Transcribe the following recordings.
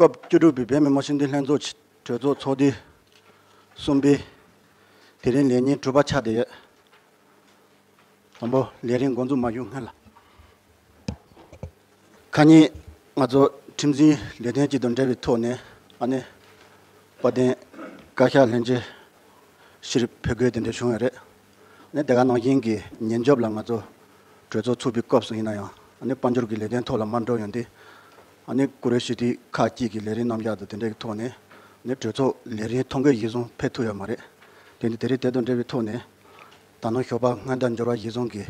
སྐབས་བཅུ་དྲུག་པའི་བོད་མི་དམངས་སྤྱི་མཐུན་ལྷན་ཚོགས་གྲོས་ཚོགས་ཚོགས་དུས་གསུམ་པའི་དེ་རིང་ལས་ཉིན་དྲུག་པ་ཆགས་བསྡད་ཡོད། དང་པོ། ལས་རིམ་འགོ་འཛུགས་མ་བཞུགས་སྔོན་ལ། ཁ་ཉིན་ང་ཚོ་ཁྲིམས་འཛིན་ལས་དོན་གཅིག་ཏུ་འབྲེལ་བའི་ཐོག་ནས་ཨ་ནེ་དཔལ་ལྡན་བཀའ་ཤག་ལྷན་རྒྱས་ཕྱིར་ཕེབས་དགོས་དེ་འདྲ་བྱུང་བ་རེད། ཨ་ནེ་དེ་ག་ནང་བཞིན་གྱི་ཉིན་རྒྱབ་ལ་ང་ཚོ་གྲོས་ཚོགས་ཚུགས་པའི་སྐབས་སུ་ཡིན་ན་ཡང་ཨ་ནེ་དཔལ་འབྱོར་གྱི་ལས་དོན་ཐོག་ལ་མར་འགྲོ་ཡོང་དུས། ཨ་ནེ་བཀུར་འོས་ཞུ་དུས་ཁག་གཅིག་གི་ལས་རིམ་རྣམ་གཞག་དང་དེ་འདྲའི་ཐོག་ནས་ཨ་ནེ་གྲོས་ཚོགས་ལས་རིམ་ཐོ་འགོད་གཞི་བཟུང་ཕེབས་ཐུབ་ཡོད་མ་རེད། དེ་ནི་དེ་རིང་དེ་དང་འབྲེལ་བའི་ཐོག་ནས་ད་ནང་ཞོགས་པ་སྔ་ཟླ་འབྱོར་བ་གཞི་བཟུང་གིས།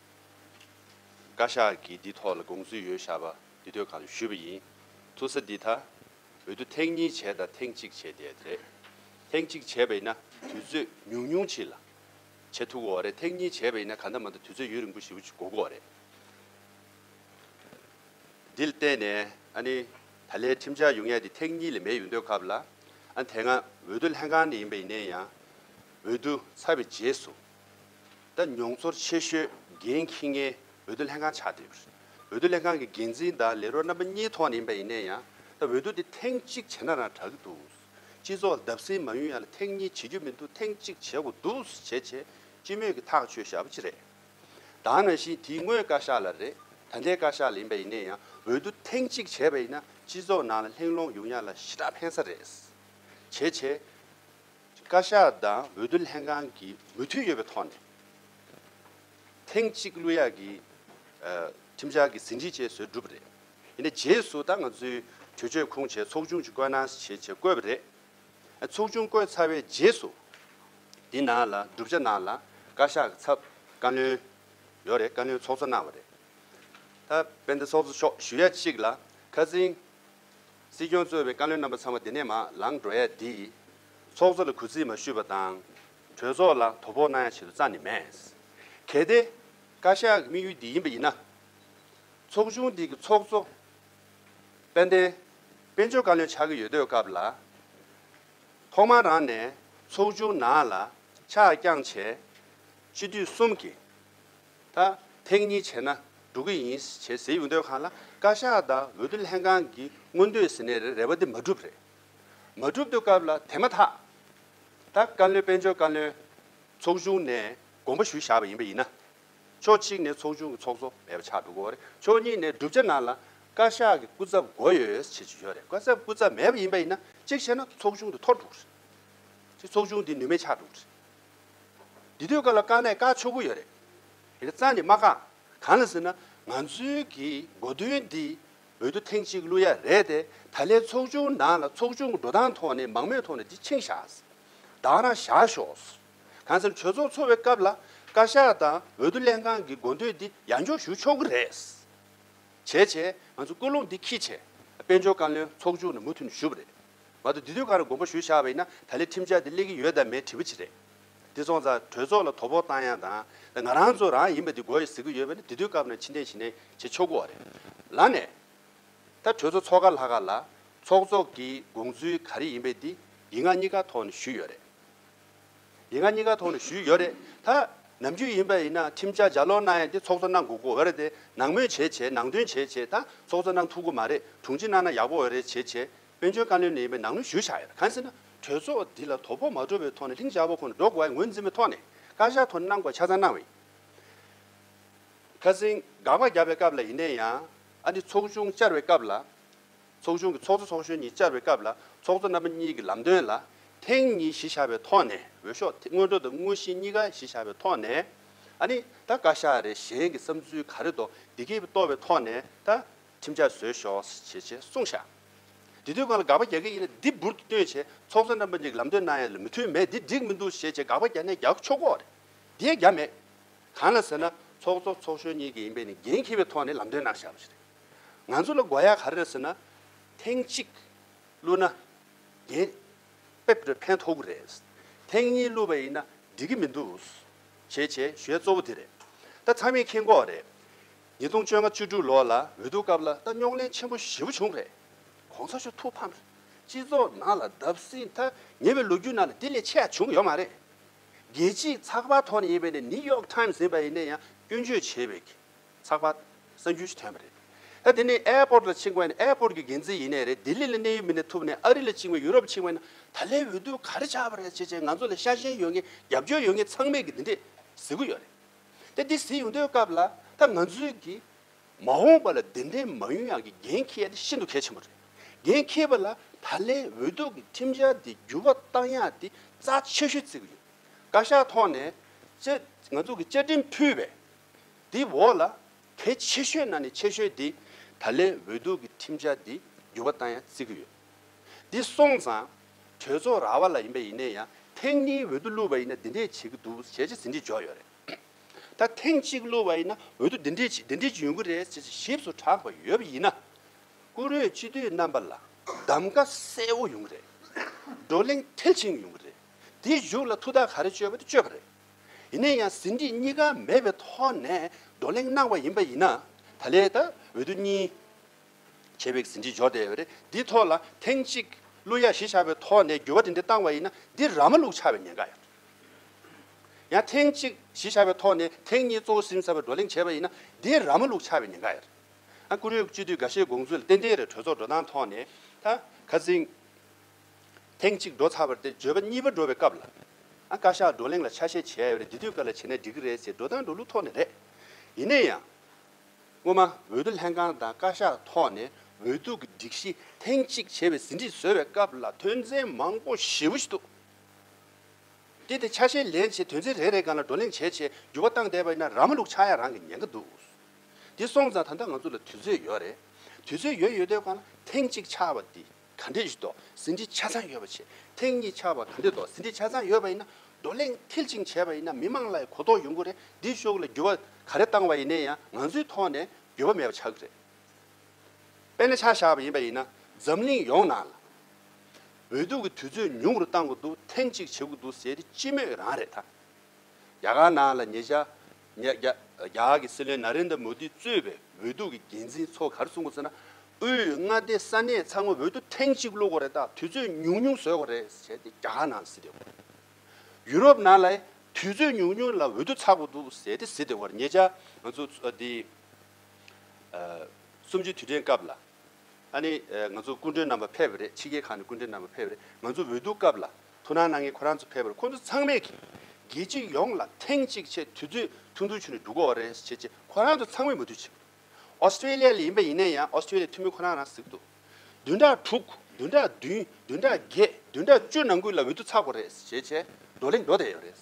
བཀའ་ཤག་གིས་འདི་ཐོག་ལ་དགོངས་ཚུལ་ཡོད་བཞག་པ་འདི་ཐོས་གང་ཞུས་པ་ཡིན། ཐུག་ས་འདི་ད་འོད་དུ་ཐེངས་གཉིས་བྱས་དང་ཐེངས་གཅིག་བྱས་བསྡད་དེ་རེད། ཐེངས་གཅིག་བྱས་པ་ཡིན་ན་དུས་ཚོད་ཉུང་ཉུང་ཕྱིན་ལ། བྱེད་ཐུག་གོ་རེད་ཐེངས་གཉིས་བྱས་པ་ཡིན་ན་ག་འདྲ་མ་འདྲ་དུས་ཚོད་ཡུན་རིང་པོ་ཞིག་འགོར་དགོས་རེད། འདི་ལ་བརྟེན་ནས་ཨ་ནི་ད་ལའི་ཁྲིམས་འཆར་ཡོང་ཡས་དེ་ཐེངས་གཉིས་ལས་མེད་ཡོང་འདོད་སྐབས་ལ་ཨ་ནི་དེ་སྔ་འོས་བསྡུ་ལྷན་ཁང་ནས་ཡིན་པ་ཡིན་ནའི་ཡང་འོས་བསྡུ་ཚར་བའི་རྗེས་སུ། ད་མྱོང་ཚོར་ཆེ་ཤོས་རྒན་མཁྱེན་མཁན་འོས་བསྡུ་ལྷན་ཁང་ཆགས་བསྡད་ཡོད་རེད། འོས་བསྡུ་ལྷན་ཁང་གི་འགན་འཛིན་དང་ལས་རོགས་རྣམ་པ་གཉིས་ཐོག་ནས་ཡིན་པ་ཡིན་ནས་ཡང་ད་འོས་བསྡུ་དེ་ཐེངས་གཅིག་བྱས་ན་རང་དྲག་གི་འདུག་སྤྱི་ཚོགས་ལ་བརྡབ་གསིག་མ་ཡོང་ཡ་ལ་ཐེངས་གཉིས་བྱེད་རྒྱུ་མི་འདུག་ཐེངས་གཅིག་བྱེད་དགོས་འདུག་བྱས་བྱས་སྤྱི་མོས་ཀྱི་ཐག་གཅོད་ཞབས་ཅི་རེད། དང་ན་བཞིན་དེ་དངོས་བཀའ་ཤག་ལ་རེད་ད་ལྟའི་བཀའ་ཤག་ལ་ཡིན་པ་ཡིན་ནས་ཡང་འོས་བསྡུ་ཐེངས་གཅིག་བྱས་པ་ཡིན་ན་སྤྱི་ཚོགས་ནང་ལ་ལྷིང་ལོང་ཡོང་ཡ་ལ་ཞི་དྲག་འཕེན་ས་རེད། བྱས་བྱས། བཀའ་ཤག་དང་འོས་བསྡུ་ལྷན་ཁང་གིས་མོས་མཐུན་ཡོད་པའི་ཐོག་ནས། ཐེངས་གཅིག་གླུ་ཡག་གི་ཁྲིམས་འཆར་གྱི་ཟིན་བྲིས་བཅས་བཟོས་གྲུབ་པ་རེད། ཡིན་ན་རྗེས་སུ་ད་ང་ཚོའི་གྲོས་ཆོད་ཁུངས་ཆེ་ཚོགས་ཆུང་གཅིག་བསྐོས་གནང་ཞེས་བཅས་བཀོད་པ་རེད། ཚོགས་ཆུང་བསྐོས་ཚར་བའི་རྗེས་སུ། དེ་ནང་ལ་བསྒྲུབ་བྱ་ནང་ལ་བཀའ་ཤག་གི་ཚབ་བཀའ་བློན་ཡོད་རེད་བཀའ་བློན་ཚོགས་གཙོ་གནང་བ་རེད། ད་དཔལ་ལྡན་ཚོགས་གཙོ་མཆོག་ཞུ་ཡ་གཅིག་ལ་ཁ་ཚིང་སྲིད་སྐྱོང་གཙོས་པའི་བཀའ་བློན་རྣམ་པ་ཚང་མ་འདི་ནས་མ་ལངས་འགྲོ་ཡ་འདི། ཚོགས་གཙོ་ལ་གུས་བརྩི་མ་ཞུས་པ་དང། གྲོས་ཚོགས་ལ་དོ་ཕོག་གནང་ཡ་བྱེད་དུ་རྩ་ནི་མེད། གལ་ཏེ། བཀའ་ཤག་གི་དམིགས་ཡུལ་འདི་ཡིན་པ་ཡིན་ན། ཚོགས་ཆུང་འདི་གི་ཚོགས་གཙོ། དཔལ་ལྡན། དཔལ་འབྱོར་བཀའ་བློན་ཆགས་ཀྱི་ཡོད་དུས་སྐབས་ལ། ཐོག་མར་རང་ནས་ཚོགས་ཆུང་ནང་ལ་ཕྱག་བརྐྱངས་བྱས། སྤྱི་འཐུས་གསུམ་གྱི། ད་ཐེངས་གཉིས་བྱས་ན་འགྲོ་གི་ཡིན་བྱས་ཟེར་ཡོང་དོན་གང་ལ་བཀའ་ཤག་དང་འོས་བསྡུ་ལྷན་ཁང་གི་མངོན་འདོད་ཟེར་ནས་རེ་བ་དེ་མ་བསྒྲུབས་རེད་མ་བསྒྲུབས་འདོད་སྐབས་ལ་དེ་མ་ཐག་ད་བཀའ་བློན་དཔལ་འབྱོར་བཀའ་བློན་ཚོགས་ཆུང་ནས་དགོངས་པ་ཞུ་བཞག་པ་ཡིན་པ་ཡིན་ན་ཕྱོགས་གཅིག་ནས་ཚོགས་ཆུང་གི་ཚོགས་གཙོ་མེད་པ་ཆགས་འགྲོ་གོ་རེད་ཕྱོགས་གཉིས་ནས་བསྒྲུབ་བྱ་ནང་ལ་བཀའ་ཤག་གི་སྐུ་ཚབ་མགོ་ཡོད་བྱེད་ཅིག་ཡོད་རེད་བཀའ་ཚབ་སྐུ་ཚབ་མེད་པ་ཡིན་པ་ཡིན་ན་གཅིག་བྱས་ན་ཚོགས་ཆུང་དེ་འཐོར་འགྲོ་གི་རེད་ཚོགས་ཆུང་དེ་ནུས་མེད་ཆགས་འགྲོ་གི་རེད། འདི་དུས་བཀའ་ལ་བཀའ་མེད་བཀའ་ཆོ་བུ་ཡོད་རེད། དེ་རྩ་ནས་མ་བཀག། གང་ལ་ཟེར་ན་ང་ཚོའི་གི་འགོ་དོན་འདི་འོས་བསྡུ་ཐེངས་གཅིག་བླུ་ཡ་རེད་དེ་ད་ལས་ཚོགས་ཆུང་ནང་ལ་ཚོགས་ཆུང་གི་འགྲོ་སྟངས་ཐོག་ནས་མང་མོས་ཐོག་ནས་འདི་འཆིང་བཞག་བདག་རང་བཞག་ཤོག། གང་ཟེར་ན་གྲོས་ཚོགས་འཚོགས་བའི་སྐབས་ལ་བཀའ་ཤག་དང་འོས་བསྡུ་ལྷན་ཁང་གི་འགོ་འདོད་འདི་ཡར་འཇོག་ཞུ་ཆོག་གི་རེད། བྱས་བྱས་ང་ཚོ་ཀུན་སློང་འདི་ཁྱི་བྱས་དཔལ་འབྱོར་བཀའ་བློན་ཚོགས་ཆུང་ནས་མུ་མཐུད་ནས་ཞུ་བ་རེད། ང་ཚོ་འདི་དུས་གང་རུང་དགོངས་པ་ཞུ་བཞག་པ་ཡིན་ན་ད་ལེ་ཁྲིམས་འཆར་འདི་སླེབས་ཀྱི་ཡོད་དམ་མེད་དྲི་བ་ཅི་རེད། འདི་ཚོང་ཙང་གྲོས་ཚོགས་ལ་དོ་ཕོག་བཏང་ཡང་དང་ལེ་ང་རང་ཚོ་རང་ཡིན་པ་འདི་མགོ་ཡི་ཟེར་གི་ཡོད་པ་ནི་འདི་དུས་སྐབས་ནང་ཕྱི་འཐེན་ཞི་འཐེན་བྱེད་ཆོག་གི་བ་རེད་ལ་ནས། ད་གྲོས་ཚོགས་ཚོགས་ཁ་ལྷག་ཁ་ལ་ཚོགས་ཚོགས་ཀྱི་དགོངས་ཚུལ་ག་རེ་ཡིན་པ་འདི་ཡིག་ངག་གཉིས་ཀ་ཐོག་ནས་ཞུས་ཡོད་རེད། ཡིན་ང་གཉིས་ཀ་ཐོག་ནས་ཞུས་ཡོད་རེད་ད། ནམ་རྒྱུན་ཡིན་པ་ཡིན་ན་ཁྲིམས་འཆར་ཇག་ལོག་གནང་ཡས་ཏེ་ཚོགས་གཙོ་གནང་དགོས་གོ་འོས་རེད་དེ་ནང་མོས་བྱས་བྱས་ནང་དོན་བྱས་བྱས་ད་ཚོགས་གཙོ་གནང་ཐུག་གོ་མ་རེད་དྲུང་ཆེ་གནང་ན་ཡག་པོ་འོས་རེད་བྱས་བྱས་དཔོན་ཆོལ་ཀ་ལོན་ནས་ཡིན་པའི་ནང་མོས་ཞུས་ཆགས་ཡོད་གང་ཟེར་ན་གྲོས་ཚོགས་འདི་ལ་དོ་ཕོག་མ་འགྲོ་བའི་ཐོག་ནས་ལྷིང་འཇགས་པོ་ཁོ་ནས་འགྲོ་དགོས་ཡ་ངོས་འཛིན་པའི་ཐོག་ནས་བཀའ་ཤག་ཐོག་ནས་གནང་དགོས་ཆ་ཚང་གནང་བའི་ཁ་ཟིན་དགག་པ་རྒྱབ་པའི་སྐབས་ལ་ཡིན་ནའི་ཡང་ཨ་འདི་ཚོགས་ཆུང་བཅར་བའི་སྐབས་ལ། ཚོགས་ཆུང་གི་ཚོགས་གཙོ་ཚོགས་གཞོན་གཉིས་བཅར་བའི་སྐབས་ལ་ཚོགས་གཙོ་རྣམ་པ་གཉིས་ཀྱི་ལམ་སྟོན་ལ་ཐེངས་གཉིས་གཞི་བཞག་པའི་ཐོག་ནས་འོས་ཤོག་སྔོན་འགྲོ་དང་དངོས་གཞི་གཉིས་ཀ་གཞི་བཞག་པའི་ཐོག་ནས། ཨ་ནི་ད་བཀའ་ཤག་རེ་གཞན་གྱི་བསམ་ཚུལ་ག་རེ་འདུག་འདི་གས་པའི་ལྟོ་བའི་ཐོག་ནས་ད་ཁྲིམས་འཆར་བཟོས་ཤོག་ཞེས་ཆེ་གསུངས་ཤག་དེ་དུས་ང་ལ་དགག་པ་རྒྱག་མཁན་ཡིན་ན་འདི་འབུར་དུ་བཏོན་བྱས་ཚོགས་གཙོ་རྣམ་པ་གཉིས་ཀྱི་ལམ་སྟོན་གནང་ཡ་ལ་མི་མཐུན་མེད་འདི་འགྲིག་མི་འདུག་ཞེས་ཆེ་དགག་པ་རྒྱག་ནས་རྒྱག་ཆོག་གོ་རེད་དེ་ཡང་རྒྱག་མེད། གང་ལ་ཟེར་ན་ཚོགས་གཙོ་ཚོགས་གཞོན་གཉིས་ཀྱི་ཡིན་པས་ནི་འགན་འཁྱེར་བའི་ཐོག་ནས་ལམ་སྟོན་གནང་ཤག་པ་ཞིག་རེད། ང་ཚོ་ལ་དགོས་ཡག་ག་རེད་ཟེར་ན། ཐེངས་གཅིག་བསླུ་ན་རྒྱན་པེབ་རེ་ཕན་ཐོགས་གི་རེད། ཐེངས་གཉིས་བསླུ་བ་ཡིན་ན་འགྲིག་གི་མི་འདུག། བྱས་བྱས་ཞོའི་གཙོ་བོ་དེ་རེད། ད་ཚང་མས་མཁྱེན་གོ་རེད། ཉིས་སྟོང་བཅོ་ལྔ་བཅུ་དྲུག་ལོ་ལ་འོས་བསྡུ་སྐབས་ལ་ད་རྙོག་གླེང་ཆེན་པོ་བཞི་བོ་བྱུང་རེད། གོང་ས་ཆོས་ཐུགས་ཕམ། སྤྱི་ཚོགས་ནང་ལ་བརྡབ་སྲིད་མཐའ་ཉེ་བའི་ལོ་རྒྱུས་ནང་ལ་དེ་ལས་ཆེ་ཡག་བྱུང་གི་ཡོད་མ་རེད། རྒྱལ་སྤྱིའི་ཚགས་པར་ཐོག་ནས་ཡིན་པའི་ནི་ནི་ཡོག་ཐཱིམ་ཟེར་བ་ཡིན་ནས་ཡང་སྐྱོན་བརྗོད་བྱས་པའི་ཚགས་པར། གསར་འགྱུར་ཞིག་ཐོན་པ་རེད། ད་དེ་ནི་ཨེ་པོར་ལ་ཕྱིན་དགོས་ན་ཨེ་པོར་གྱི་འགན་འཛིན་ཡིན་ནའི་རེད་ལྡི་ལི་ལ་གནས་ཡུལ་མིན་ནའི་ཐུབ་ནའི་ཨ་རི་ལ་ཕྱིན་དགོས་ཡུ་རོབ་ཕྱིན་དགོས་ན་ད་ལའི་འོས་བསྡུ་ག་རེ་བྱ་བ་རེད་བྱས་བྱས་ང་ཚོ་ལ་ཤ་ཞེན་ཡོད་ངེས་རྒྱབ་སྐྱོར་ཡོད་ངེས་ཚང་མས་ཀྱི་འདི་འདྲས་གཟིགས་གི་ཡོད་རེད། ད་འདི་གཟིགས་ཡོང་དོན་སྐབས་ལ་ད་ང་ཚོའི་གི་མ་འོངས་པ་ལ་འདི་འདྲས་མ་ཡོན་ཡང་གི་འགན་འཁྱེར་འདི་ཤིན་ཏུ་གལ་ཆེན་པོ་རེད། འགན་འཁྱེར་པ་ལ་ད་ལའི་འོས་བསྡུ་གི་ཁྲིམས་འཆར་འདི་འགྱུར་བ་གཏང་ཡག་འདི་རྩ་ཆེ་ཤོས་བརྩི་གི་ཡོད། བཀའ་ཤག་ཐོག་ནས་བཅའ་ང་ཚོ་གི་བཅའ་ཁྲིམས་ཕུལ་བས་དེའི་འོག་ལ་དེ་ཆེ་ཤོས་ན་ནས་ཆེ་ཤོས་དེ་ད་ལན་འོས་བསྡུ་གི་ཁྲིམས་འཆར་དེ་འགྱུར་བ་བཏང་ཡང་བརྩི་གི་ཡོད། དེ་སོང་ཙང་གྲོས་ཚོགས་ར་བ་ལ་ཡིན་པ་ཡིན་ནས་ཡང་ཐེངས་གཉིས་འོས་བསྡུ་བླུགས་པ་ཡིན་ན་འདི་འདྲས་བྱེད་གི་འདུག་བྱས་རྗེས་ཟིན་བྲིས་འཇོག་ཡོད་རེད། ད་ཐེངས་གཅིག་བླུགས་པ་ཡིན་ན་འོས་བསྡུ་འདི་འདྲས་བྱེད་འདི་འདྲས་ཀྱི་ཡོང་གི་རེད་ཅེས་ཞིབ་སུ་གྲགས་པ་ཡོད་པ་ཡིན་ན། བཀུར་འོས་སྤྱི་འཐུས་རྣམ་པ་ལ་གདམ་ཀ་གསལ་བོ་ཡོང་གི་རེད། བགྲོ་གླེང་མཐིལ་ཕྱིན་ཡོང་གི་རེད། དེའི་གཞུག་ལ་ཐུགས་ཐག་ག་རེ་གཅོད་པ་དེ་གཅོད་པ་རེད། ཡིན་ན་ཡང་ཟིན་བྲིས་གཉིས་ཀ་མེད་པའི་ཐོག་ནས་བགྲོ་གླེང་གནང་བ་ཡིན་པ་ཡིན་ན་ད་ལས་ད་འོད་དུ་གཉིས། བྱས་པའི་ཟིན་བྲིས་འཇོག་བསྡད་རེད་འདིའི་ཐོག་ལ་ཐེངས་གཅིག་གླུ་དབྱངས་གཞི་བཞག་པའི་ཐོག་ནས་འགྱུར་བ་དེ་འདྲ་བཏང་བ་ཡིན་ན་འདི་ར་མ་ལུག་ཆགས་པའི་ཉེན་ཁ་ཡོད། ཡང་ཐེངས་གཅིག་གཞི་བཞག་པའི་ཐོག་ནས་ཐེངས་གཉིས་གཙོ་བོ་ཟིན་ཚར་བའི་བགྲོ་གླེང་བྱས་པ་ཡིན་ན་འདི་ར་མ་ལུག་ཆགས་པའི་ཉེན་ཁ་ཡོད། ཨ་ཀུ་རེ་བཅུ་དུས་འགའ་ཤས་དགོངས་ཚུལ་ལ་ཏན་ཏན་རེད་གྲོས་ཚོགས་འགྲོ་སྟངས་ཐོག་ནས་ད་ག་ཟིན། ཐེངས་གཅིག་འགྲོ་ཚར་བར་དེ་བརྗོད་པ་གཉིས་པ་འགྲོ་བའི་སྐབས་ལ། བཀའ་ཤག་བགྲོ་གླེང་ལ་ཆ་ཤས་བྱས་ཡོད་རེད་འདི་དུས་བཀའ་ལ་བྱས་ན་འགྲིག་གི་རེད་ཟེར་འགྲོ་སྟངས་འགྲོ་ལུགས་ཐོག་ནས་རེད། ཡིན་ན་ཡང། སྔོན་མ་འོས་བསྡུ་ལྷན་ཁང་དང་བཀའ་ཤག་ཐོག་ནས་འོས་བསྡུ་གི་སྒྲིག་གཞི་ཐེངས་གཅིག་བྱས་པའི་ཟིན་བྲིས་བཟོས་བའི་སྐབས་ལ་དོན་ཚན་མང་པོ་ཞེ་བོ་ཞིག་འདུག་དེ་དེ་ཆ་ཤས་ལེན་བྱེད་དོན་ཚན་རེ་རེ་གང་ལ་བགྲོ་གླེང་བྱས་བྱས་འགྱུར་བ་བཏང་བསྡད་པ་ཡིན་ན་ར་མ་ལུག་ཆགས་ཡ་རང་གི་ཉན་གི་འདུག་དེ་སོང་ཙང་ད་ལྟ་ང་ཚོ་ལ་དུས་ཚོད་ཡོད་རེད་དུས་ཚོད་ཡོད་ཡོད་དོན་གང་ལ་ཐེངས་གཅིག་ཆགས་པ་འདི། ག་འདྲེ་བཞི་དོགས་ཟིན་བྲིས་ཆ་ཚང་ཡོད་པ་བྱེད་ཐེངས་གཉིས་ཆགས་པ་ག་འདྲེ་དོགས་ཟིན་བྲིས་ཆ་ཚང་ཡོད་པ་ཡིན་ན་བགྲོ་གླེང་མཐིལ་ཕྱིན་བྱས་པ་ཡིན་ན་མི་མང་ལ་ཡང་གོ་རྟོགས་ཡོང་གི་རེད་འདིའི་ཤོག་ལ་འགྱུར་བ་ག་རེ་བཏང་བ་ཡིན་ནའི་ཡང་ང་ཚོའི་ཐོག་ནས་འགྱུར་བ་མེད་པ་ཆགས་ཀྱི་རེད་དཔེར་ན་ཆ་བཞག་པ་ཡིན་པ་ཡིན་ན་འཛམ་གླིང་ཡོངས་ནང་ལ་འོས་བསྡུ་གི་དུས་ཚོད་ཉུང་རུ་བཏང་གི་འདུག་ཐེངས་གཅིག་བྱེད་དགོས་འདུག་ཟེར་དེ་སྤྱི་མོས་རང་རེད་ད་རྒྱ་གར་ནང་ལ་ཉེ་ཆར། ཉེ་རྒྱ། རྒྱ་གར་གྱི་སྲིད་བློན་ནཱ་རེན་དཱ་མོ་དཱི་གཙོས་པའི་འོས་བསྡུ་གི་འགན་འཛིན་ཚོ་གར་སོང་གོ་ཚེ་ན། དབུས་མངའ་སྡེའི་ས་གནས་ཚང་མ་འོས་བསྡུ་ཐེངས་གཅིག་བླུག་གོ་རེ་ད་དུས་ཚོད་ཉུང་ཉུང་བཟོས་གོ་རེ་བྱས་ཏེ་རྒྱ་གར་ནང་སྲིད་བདེ་བར། ཡུ་རོབ་ནང་ལ་དུས་ཚོད་ཉུང་ཉུང་ལ་འོས་བསྡུ་ཚགས་པོ་འདུག་ཟེར་ཏེ་སྲིད་བདེ་བར་ཉེ་རྒྱ། ང་ཚོ་འདི། གསུམ་བཅུའི་དུས་དྲན་སྐབས་ལ། ཨ་ནི། ང་ཚོ་སྐུ་མགྲོན་རྣམ་པ་ཕེབས་པ་རེད་ཕྱི་རྒྱལ་ཁག་ནས་སྐུ་མགྲོན་རྣམ་པ་ཕེབས་པ་རེད་ང་ཚོ་འོས་ལྡུག་སྐབས་ལ་ཐུགས་སྣང་གནང་མཁན་ཁོ་རང་ཚོ་ཕེབས་པ་རེད་ཁོ་ཚོ་ཚང་མས་ཀྱིས་རྒྱལ་སྤྱི་ཡོངས་ལ་ཐེངས་གཅིག་ཆེད་དུས་ཚོད་ཐུང་ཐུང་ཆུ་ནས་འགྲོ་དགོས་རེད་བྱས་རྗེས་ཁོ་རང་ཚོ་ཚང་མས་མུ་མཐུད་བྱེད་པ་རེད Australia ལ་ཡིན་པ་ཡིན་ན་ཡང Australia འཐུས་མི་ཁོ་རང་རང་གཟིགས་འདུག་བདུན་ཕྲག་དྲུག་བདུན་ཕྲག་བདུན་བདུན་ཕྲག་བརྒྱད་བདུན་ཕྲག་བཅུ་ནང་ཁུལ་ལ་འོས་ལྡུག་ཚགས་པོ་རེད་བྱས་རྗེས་འགྲོ་ལེ་འགྲོ་བསྡད་ཡོད་རེད་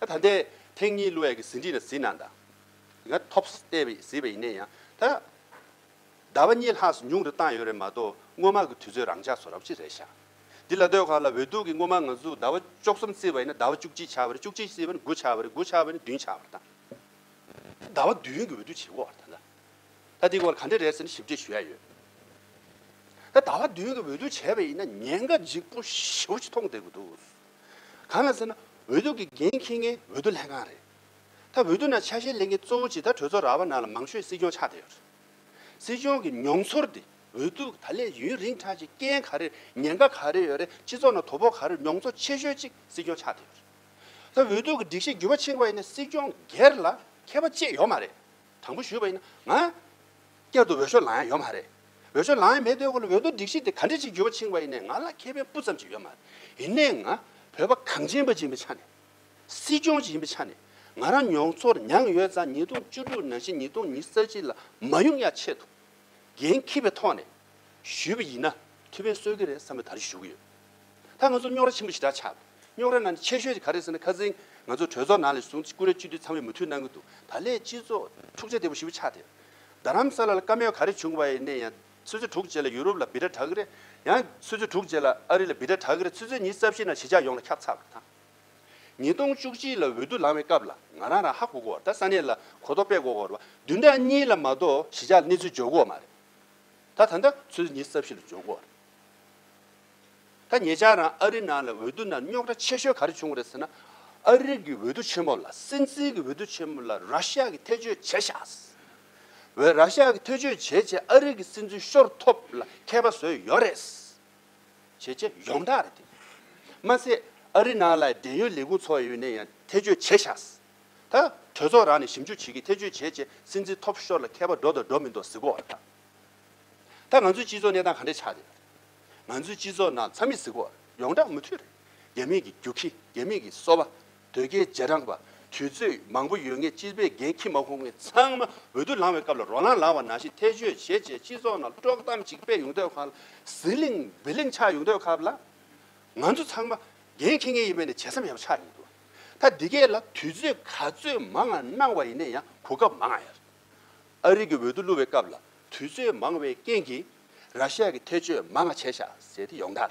ད་ད་ལྟའི་ཐེངས་གཉིས་གླུ་ཡག་གི་ཟིན་བྲིས་ན་གཟིགས་གནང་དང། ཡིན་ན Tops ལྟས་པའི་གཟིགས་པ་ཡིན་ན་ཡང་ད། ཟླ་བ་གཉིས་ལྷག་སུ་ཉུང་རུ་བཏང་ཡོད་རེད་མ་གཏོགས་སྔོན་མ་གི་དུས་ཚོད་རང་འཇགས་སུ་རག་ཅི་རེད་བཞག་འདི་ལ་སྡོད་ཁག་ལ་འོས་ལྡུག་གི་སྔོན་མ་ང་ཚོས་ཟླ་བ་བཅོ་གསུམ་བརྩི་བ་ཡིན་ན་ཟླ་བ་བཅུ་གཅིག་ཆགས་པ་རེད་བཅུ་གཅིག་བརྩི་བ་ནི་དགུ་ཆགས་པ་རེད་དགུ་ཆགས་པ་ནི་བདུན་ཆགས་པར་བཏང་ཟླ་བ་བདུན་གི་འོས་ལྡུག་བྱེད་དགོས་བ་ད་ད་འདི་སྐོར་ག་འདྲི་རེད་ཟེར་ན་ཞིབ་འབྲི་ཞུ་ཡ་ཡོད་ད་ཟླ་བ་བདུན་གི་འོས་ལྡུག་བྱས་པ་ཡིན་ན་ཉེན་ཁ་འཇིགས་པོ་ཞེ་བོ་ཞིག་མཐོང་བསྡད་དགོས་འདུག་གང་ལ་ཟེར་ན་འོས་ལྡུག་གི་འགན་འཁྱེར་མཁན་འོས་ལྡུག་ལྷན་ཁང་རེད་ད་འོས་ལྡུག་ནང་ཆ་ཤས་ལེན་མཁན་གཙོ་བོ་ཇི་ལྟར་གྲོས་ཚོགས་རག་བ་ནང་ལ་མང་ཤོས་སྲིད་སྐྱོང་ཆགས་བསྡད་ཡོད་རེད། སྲིད་སྐྱོང་གི་མྱོང་ཚོར་དེ་འོས་བསྡུ་ད་ལས་ཡུན་རིང་ཆགས་ཅིག་རྐྱེན་ག་རེ་ཉེན་ཁ་ག་རེ་ཡོད་རེད་སྤྱི་ཚོགས་ནང་དོ་ཕོག་ག་རེ་མྱོང་ཚོར་ཆེ་ཤོས་ཅིག་སྲིད་སྐྱོང་ཆགས་ཐུབ་ཀྱི་རེད་ད་འོས་བསྡུ་གི་སྒྲིག་གཞི་འགྱུར་བ་ཕྱིན་པ་ཡིན་ན་སྲིད་སྐྱོང་སྒེར་ལ་ཁྱད་པ་ཅི་ཡོད་མ་རེད་དྲང་པོ་ཞུས་པ་ཡིན་ན་ང་སྐྱར་དུ་འོས་ཤོག་ལང་ཡ་ཡོད་མ་རེད་འོས་ཤོག་ལང་ཡ་མེད་དོན་གོ་ལ་འོས་བསྡུ་སྒྲིག་གཞི་དེ་ག་འདྲི་ཅིག་འགྱུར་བ་ཕྱིན་པ་ཡིན་ན་ང་ལ་ཁེ་ཕན་སྤུ་ཙམ་ཅིག་ཡོད་མ་རེད་ཡིན་ན་ང་བོད་པ་གངས་ཅན་པ་སྦྱིན་པའི་ཆ་ནས་སྲིད་སྐྱོང་ཞིག་ཡིན་པའི་ཆ་ནས་ང་རང་མྱོང་ཚོར་མྱངས་ཡོད་ཙང་ཉིས་སྟོང་བཅུ་དྲུག་ནང་བཞིན་ཉིས་སྟོང་ཉིས་རྩ་གཅིག་ལ་མ་ཡོང་ཡ་ཆེད་དུ་འགན་འཁྱེར་བའི་ཐོག་ནས་ཞུས་པ་ཡིན་ན་ཐུགས་ཕན་གསོས་ཀྱི་རེད་བསམ་པའི་དར་ཞུ་གི་ཡོད། ད་ང་ཚོ་རྙོག་ར་ཆེན་པོ་ཞེ་དྲག་ཆགས་འདུག་རྙོག་ར་ནང་ནས་ཆེ་ཤོས་དེ་ག་རེད་ཟེར་ན་ཁ་ཟས་ང་ཚོ་གྲོས་ཚོགས་ནང་ལས་བཟུང་སྐུ་ར་བཅུ་དུས་ཚང་བས་མུ་མཐུད་གནང་གི་འདུག་ད་ལས་སྤྱི་ཚོགས་འཁྲུག་ཆ་དེ་བཞི་བོ་ཆགས་ཐེབས། རྡ་རམ་ས་ལ་ལ་དཀའ་མོས་ག་རེ་བྱུང་བ་ཡིན་ནས་ཡང་ཚོད་ཚོད་དྲུག་རྗེས་ལ་ཡུ་རོབ་ལ་སྦིར་སྒྲ་གྲག་གི་རེད་ཡང་ཚོད་ཚོད་དྲུག་རྗེས་ལ་ཨ་རི་ལ་སྦིར་སྒྲ་གྲག་གི་རེད་ཚོད་ཚོད་ཉིས་རྩ་བཞི་ནང་ཞི་འཇགས་ཡོང་ལ་ཁྱབ་ཚགས་པར་དང། ཉིས་སྟོང་བཅུ་གཅིག་ལ་འོས་བསྡུ་ལངས་བའི་སྐབས་ལ་ང་རང་རང་ཧ་གོ་གོ་ད་ས་གནས་ལ་གོ་ཐོ་དཔེ་གོ་གོ་ར་བདུན་ཕྲག་གཉིས་ལ་མ་གཏོགས་གཞི་ཆགས་གནས་ཚུལ་འཇོག་གོ་མ་རེད་ད་ད་ད་ཚོད་ཉིས་སྟབས་བཞི་ལ་འཇོག་གོ་རེད། ད་ངེད་ཅག་རང་ཨ་རི་ནང་ལ་འོས་བསྡུ་ནང་རྙོག་དྲ་ཆེ་ཤོས་ག་རེ་བྱུང་བ་རེད་ཟེར་ན་ཨ་རི་གི་འོས་བསྡུ་ཆེན་མོ་ལ་སྲིད་འཛིན་གི་འོས་བསྡུ་ཆེན་མོ་ལ་ར་ཤ་གི་ཐེ་ཇོས་བྱས་ཤགས་བས་ར་ཤ་གི་ཐེ་ཇོས་བྱས་བྱས་ཨ་རི་གི་སྲིད་འཛིན་ཤོར་ཐོབ་ལ་ཁད་པ་བཟོས་ཡོད་རེད། བྱེད་ཆེད་ཡོངས་བསྒྲགས་རེད་དེ། མ་ཟད་ཨ་རི་ནང་ལ་འབྲེལ་ཡོད་ལས་ཁུངས་ཚོ་ཡོད་ནས་ཡང་ཐེ་བྱུས་བྱས་ཤག། ད་གྲོས་ཚོགས་རང་ནས་ཞིབ་འཇུག་བྱེད་ཀྱི་ཐེ་བྱུས་བྱས་རྗེས་སྲིད་འཛིན་ཐོབ་ཤོར་ལ་མཁས་པ་འགྲོ་དང་འགྲོ་མི་འདོ་ཟེར་གོ་ར། ད་ང་ཚོའི་སྤྱི་ཚོགས་གནས་སྟངས་ག་འདྲས་ཆགས་ཡོད། ང་ཚོའི་སྤྱི་ཚོགས་ནང་ཚ་མི་ཟེར་གོ་ར་ཡོངས་བསྒྲགས་མུ་མཐུད་རེད། རྒྱ་མིས་ཀྱི་རྒྱུགས་ཁྱི་རྒྱ་མིས་ཀྱི་སོ་བ། དོལ་རྒྱལ་རྗེས་འབྲང་པ་དུས་ཚོད་མང་པོ་ཡོད་ངེས་སྤྱི་པའི་འགན་ཁྱི་མ་ཁོང་ངེ་ཚང་མ་འོས་བསྡུ་ལང་བའི་སྐབས་ལ་རོ་ལངས་ལངས་བ་ནང་བཞིན་ཐེ་བྱུས་བྱེད་བྱེད་སྤྱི་ཚོགས་ནང་དཀྲོག་གཏམ་ཅིག་སྤེལ་ཡོང་དོད་ཁ་ལ་ཟི་ལིང་བི་ལིང་ཆགས་ཡོང་དོད་སྐབས་ལ་ང་ཚོ་ཚང་མ་འགན་ཁྱི་ངེས་ཡིན་པའི་ནས་བྱེད་བསམ་ཡག་པོ་ཆགས་ཡོང་དོད་ད་འདི་གས་ལ་དུས་ཚོད་ག་ཚོད་མང་ང་གནང་བ་ཡིན་ནས་ཡང་གོ་སྐབས་མང་ཡ་རེད་ཨ་རིག་གི་འོས་བསྡུ་བསླུ་བའི་སྐབས་ལ་དུས་ཚོད་མང་བའི་རྐྱེན་གྱིས་ར་ཤ་ཡ་གི་ཐེ་བྱུས་མང་ང་བྱས་ཤག་ཟེར་ཏེ་ཡོང་དར།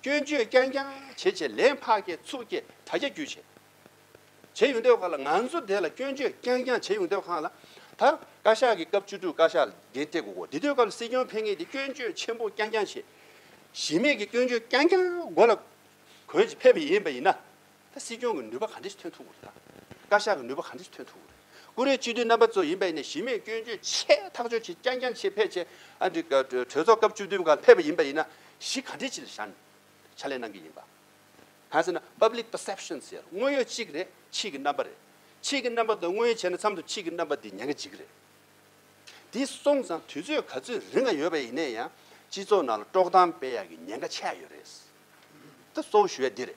སྐྱོན་བརྗོད་རྐྱང་རྐྱང་བྱེད་བྱེད་ལན་འཕགས་སྐྱེ་ཚུགས་སྐྱེ་དྲག་རྒྱ་རྒྱུད་བྱེད། བྱེད་ཡོང་སྡོད་ཁག་ལ་ང་ཚོ་དེ་ལ་སྐྱོན་བརྗོད་རྐྱང་རྐྱང་བྱེད་ཡོང་སྡོད་ཁག་ལ། ད་བཀའ་ཤག་གི་སྐབས་བཅུ་དྲུག་བཀའ་ཤག་འདི་སྟེ་དགུ་གོ་འདི་སྡོད་སྐབས་ལ་སྲིད་སྐྱོང་ཕེབས་ངེས་ཏེ་སྐྱོན་བརྗོད་ཆེན་པོ་རྐྱང་རྐྱང་བྱེད། གཞི་མེད་ཀྱི་སྐྱོན་བརྗོད་རྐྱང་རྐྱང་མགོ་ལ་གོན་བྱེད་ཕེབས་པ་ཡིན་པ་ཡིན་ན། ད་སྲིད་སྐྱོང་གི་ནུས་པ་ག་འདྲས་སུ་ཐོན་ཐུབ་འོ་རེད་ད། བཀའ་ཤག་གི་ནུས་པ་ག་འདྲས་སུ་ཐོན་ཐུབ་འོ་རེད། ཀུ་རེ་སྤྱི་འཐུས་རྣམ་པ་གཙོ་ཡིན་པ་ཡིན་ནའི་གཞི་མེད་སྐྱོན་བརྗོད་ཆེ་ཐག་ཆོད་ཆེ་རྐྱང་རྐྱང་ཆེ་ཕལ་ཆེ་ཨ་འདྲི་གྲོས་ཚོགས་སྐབས་བཅུ་བདུན་གང་ཕེབས་པ་ཡིན་པ་ཡིན་ན་གཞི་ག་འདྲས་ཅི་ལ་བཞག་ནས་ཕྱག་ལས་གནང་གི་ཡིན་པ། གང་ཟེར་ན Public Perception ཟེར་དངོས་ཡོད་གཅིག་རེད་ཕྱིས་ཀྱི་རྣམ་པ་རེད། ཕྱིས་ཀྱི་རྣམ་པ་དང་དངོས་ཡོད་བྱས་ན་མཚམས་དུ་ཕྱིས་ཀྱི་རྣམ་པ་དེ་ཉན་གྱི་འཇིག་གི་རེད། དེ་སོང་ཙང་དུས་ཚོད་ག་ཚོད་རིང་ང་ཡོད་པ་ཡིན་ནའི་ཡང་སྤྱི་ཚོགས་ནང་ལ་དཀྲོག་གཏམ་སྤེལ་ཡག་གི་ཉན་ཁ་ཆེ་ཡག་ཡོད་རེད། ད་གཙོ་བོ་ཞུ་ཡག་འདི་རེད།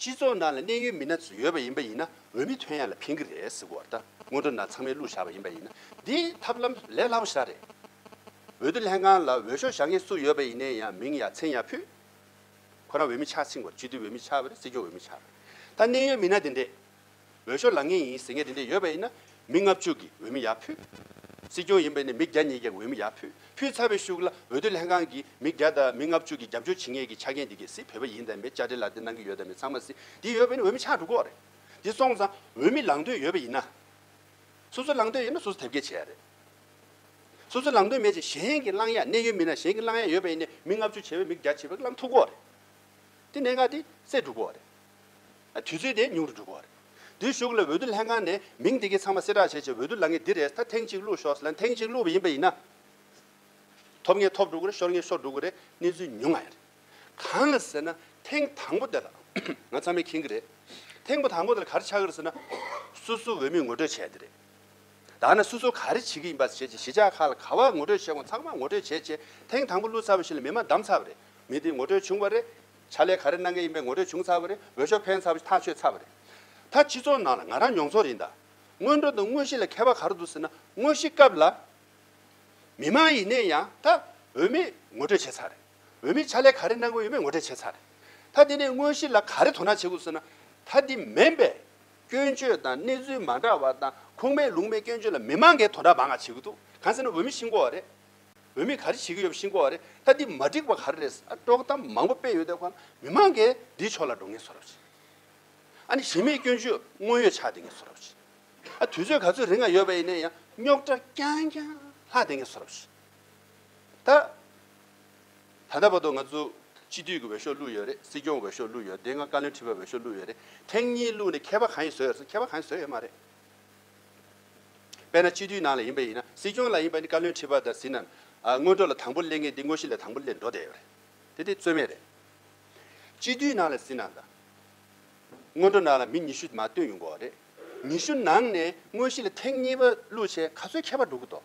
སྤྱི་ཚོགས་ནང་ལ་གནས་ཡུལ་མི་སྣ་ཚོ་ཡོད་པ་ཡིན་པ་ཡིན་ན་འོས་མི་ཐོན་ཡ་ལ་ཕན་གི་རེད་ཟེར་གོ་ད་སྔོན་འགྲོ་ན་ཚང་མའི་གླུ་བཞག་པ་ཡིན་པ་ཡིན་ན་འདི་ཐབས་ལམ་ལས་སླ་པོ་ཞིག་རེད་འོས་བསྡུ་ལྷན་ཁང་ལ་འོས་ཤོག་བཞག་མཁན་སུ་ཡོད་པ་ཡིན་ནའི་ཡང་མིང་ཡང་མཚན་ཡང་ཕུད་ཁོ་རང་འོས་མི་ཆགས་ཚིག་གོ་ལ་སྤྱི་འཐུས་འོས་མི་ཆགས་པ་རེད་སྲིད་སྐྱོང་འོས་མི་ཆགས་པ་རེད་ད་གནས་ཡུལ་མི་སྣ་དེ་འདྲས། འོས་ཤོག་ལང་ངེས་ཡིན་ཟེར་མཁན་དེ་འདྲ་ཡོད་པ་ཡིན་ན་མི་ལྔ་བཅུ་གིས་འོས་མི་ཡག་ཕུད། སྲིད་སྐྱོང་ཡིན་པ་ནས་མི་བརྒྱ་གཉིས་ཀྱིས་འོས་མི་ཡག་ཕུད་ཕུད་ཚར་བའི་ཤུགས་ལ་འོས་བསྡུ་ལྷན་ཁང་གིས་མི་བརྒྱ་དང་མི་ལྔ་བཅུ་གིས་རྒྱབ་སྐྱོར་བྱེད་ངེས་ཀྱི་ཆ་རྐྱེན་འདི་གལ་སྲིད་བོད་པ་ཡིན་དམ་པའི་བཅར་འདྲི་ལ་དེ་གནང་གི་ཡོད་དམ་མེད་ཚང་མ་སྲིད་འདི་ཡོད་པས་ནི་འོས་མི་ཆགས་འགྲོ་གོ་རེད། འདི་སོང་ཙང་འོས་མི་ལང་འདོད་ཡོད་པ་ཡིན་ན། སོ་སོ་ལང་འདོད་ཡོད་ན་སོ་སོ་དེབ་སྐྱེལ་བྱས་ཡ་རེད། སོ་སོ་ལང་འདོད་མེད་ཅིང་གཞན་གྱི་བླང་ཡ་གནས་ཡོད་མིན་ན་གཞན་གྱི་བླང་ཡ་ཡོད་པས་ནི་མི་ལྔ་བཅུ་བྱས་པས་མི་བརྒྱ་བྱས་པས་ཀྱི་ལང་ཐུག་གོ་རེད། དེ་གནད་འགག་དེ་སེལ་འགྲོ་གོ་རེད། དུས་ཚོད་དེ་ཉུང་དུ་འགྲོ་གི་བ་རེད། དེ་ཞུགས་ལ་འོས་བསྡུ་ལྷན་ཁང་ནས་མིང་དེ་གའི་ཚང་མ་གསལ་བསྒྲགས་བྱས་རྗེས་འོས་བསྡུ་ལ་ངས་འདི་རེད་ད་ཐེངས་གཅིག་བླུགས་ཤོག་ཟེར་ལ་ཐེངས་གཅིག་བླུགས་པ་ཡིན་པ་ཡིན་ན། ཐོབ་ངེས་ཐོབ་འགྲོ་གི་རེད་ཤོར་ངེས་ཤོར་འགྲོ་གི་རེད་གནས་ཚུལ་ཉུང་ང་ཡ་རེད། གང་ལ་ཟེར་ན་ཐེངས་དང་པོ་དེ་ལ་ང་ཚང་མས་མཁྱེན་གི་རེད། ཐེངས་པོ་དང་པོ་དེ་ལ་ག་རེ་ཆགས་གི་རེད་ཟེར་ན། སོ་སོའི་འོས་མི་ངོ་སྤྲོད་བྱས་དེ་རེད། ད་ནི་སོ་སོ་ག་རེ་བྱེད་ཀྱི་ཡིན་པ་བྱས་རྗེས་གཞིས་ཆགས་ཁག་ལ་ག་བ་ངོ་སྤྲོད་བྱས་གོང་ཚང་མ་ངོ་སྤྲོད་བྱས་རྗེས་ཐེངས་དང་པོ་བླུགས་ཚར་བ་ཞིག་ལ་མི་མ་བདམས་ཚར་བ་རེད་མི་དེ་ངོ་སྤྲོད་བྱུང་བ་རེད། བྱ་ལས་ག་རེ་གནང་གི་ཡིན་པའི་ངོ་སྤྲོད་བྱུང་ཚར་བ་རེད་འོས་ཤོག་འཕེན་ཚར་བ་ཐག་ཆོད་ཚར་བ་རེད། ད་སྤྱི་ཚོགས་ནང་ལ་ང་རང་མྱོང་ཚོར་ཡིན་ད། སྔོན་འགྲོ་དང་དངོས་གཞི་ལ་ཁྱད་པར་ག་རེ་འདུག་ཟེར་ན་དངོས་གཞི་སྐབས་ལ། མི་དམངས་ཡིན་ནས་ཡང་ད་འོས་མི་ངོ་སྤྲོད་བྱས་ཚར་རེད། འོས་མི་བྱ་ལས་ག་རེ་གནང་གི་ཡོད་མེད་ངོ་སྤྲད་བྱས་ཚར་རེད། ད་དེ་ནས་དངོས་གཞི་ལ་ག་རེ་དོ་སྣང་བྱེད་དགོས་ཟེར་ན། ད་དེ་མིན་པས། སྐྱོན་བརྗོད་དང་གནས་ཚུལ་མ་འདྲ་བ་དང་ཁུངས་མེད་ལུང་མེད་སྐྱོན་བརྗོད་ལ་མི་དམངས་འགས་དོ་འདྲ་མང་ང་བྱེད་གི་འདུག་གང་ཟེར་ན་འོས་མི་ཤི་འགོ་བ་རེད། བོད་མི་ག་རེ་བྱེད་ཀྱི་ཡོད་པ་ཤིན་ཀོ་བ་རེད་ད་འདི་མ་འགྲིག་པ་ག་རེ་རེད་ཨ་དཀྲོག་གཏམ་མང་པོ་སྤེལ་ཡོད་དེ་ཁོ་ན་མི་མང་གི་འདི་ཕྱོགས་ལ་འགྲོ་ངེས་སོ་ར་བ་བྱེད་ཨ་ནི་གཞི་མེད་སྐྱོན་བརྗོད་དངོས་ཡོད་ཆགས་བསྡད་ངེས་སོ་ར་བ་བྱེད་ཨ་དུས་ཚོད་ག་ཚོད་རིང་ང་ཡོད་པ་ཡིན་ནའི་ཡང་རྙོག་དྲ་རྐྱང་རྐྱང་ལྷག་བསྡད་ངེས་སོ་ར་བ་བྱེད་ད། ད་ལྟ་བར་དུ་ང་ཚོ་སྤྱི་འཐུས་ཀྱི་འོས་ཤོག་བླུགས་ཡོད་རེད་སྲིད་སྐྱོང་འོས་ཤོག་བླུགས་ཡོད་དེ་སྔ་བཀའ་བློན་ཁྲི་པའི་འོས་ཤོག་བླུགས་ཡོད་རེད་ཐེངས་གཉིས་བླུགས་ནས་མཁས་པ་གང་ཡིན་བཟོས་ཡོད་རེད་མཁས་པ་གང་ཡིན་བཟོས་ཡོད་མ་རེད། དཔེར་ན་སྤྱི་འཐུས་ནང་ལ་ཡིན་པ་ཡིན་ན་སྲིད་སྐྱོང་ལ་ཡིན་པ་ནི་བཀའ་བློན་ཁྲི་པ་དང་ཟིན་ན། སྔོན་འགྲོ་ལ་དང་པོ་སླེབས་ངེས་དེ་དངོས་གཞི་ལ་དང་པོ་སླེབས་འགྲོ་བསྡད་ཡོད་རེད། དེ་དེ་རྩོད་མེད་རེད། སྤྱི་འཐུས་ནང་ལ་ཟིན་ན་དང། སྔོན་འགྲོ་ནང་ལ་མི་ཉི་ཤུ་མ་བཏོན་ཡོང་དགོས་བ་རེད། ཉི་ཤུ་ནང་ནས་དངོས་གཞི་ལ་ཐེངས་གཉིས་པ་བླུགས་བྱས་ག་ཚོད་ཁྱད་པར་འགྲོ་གི་འདུག།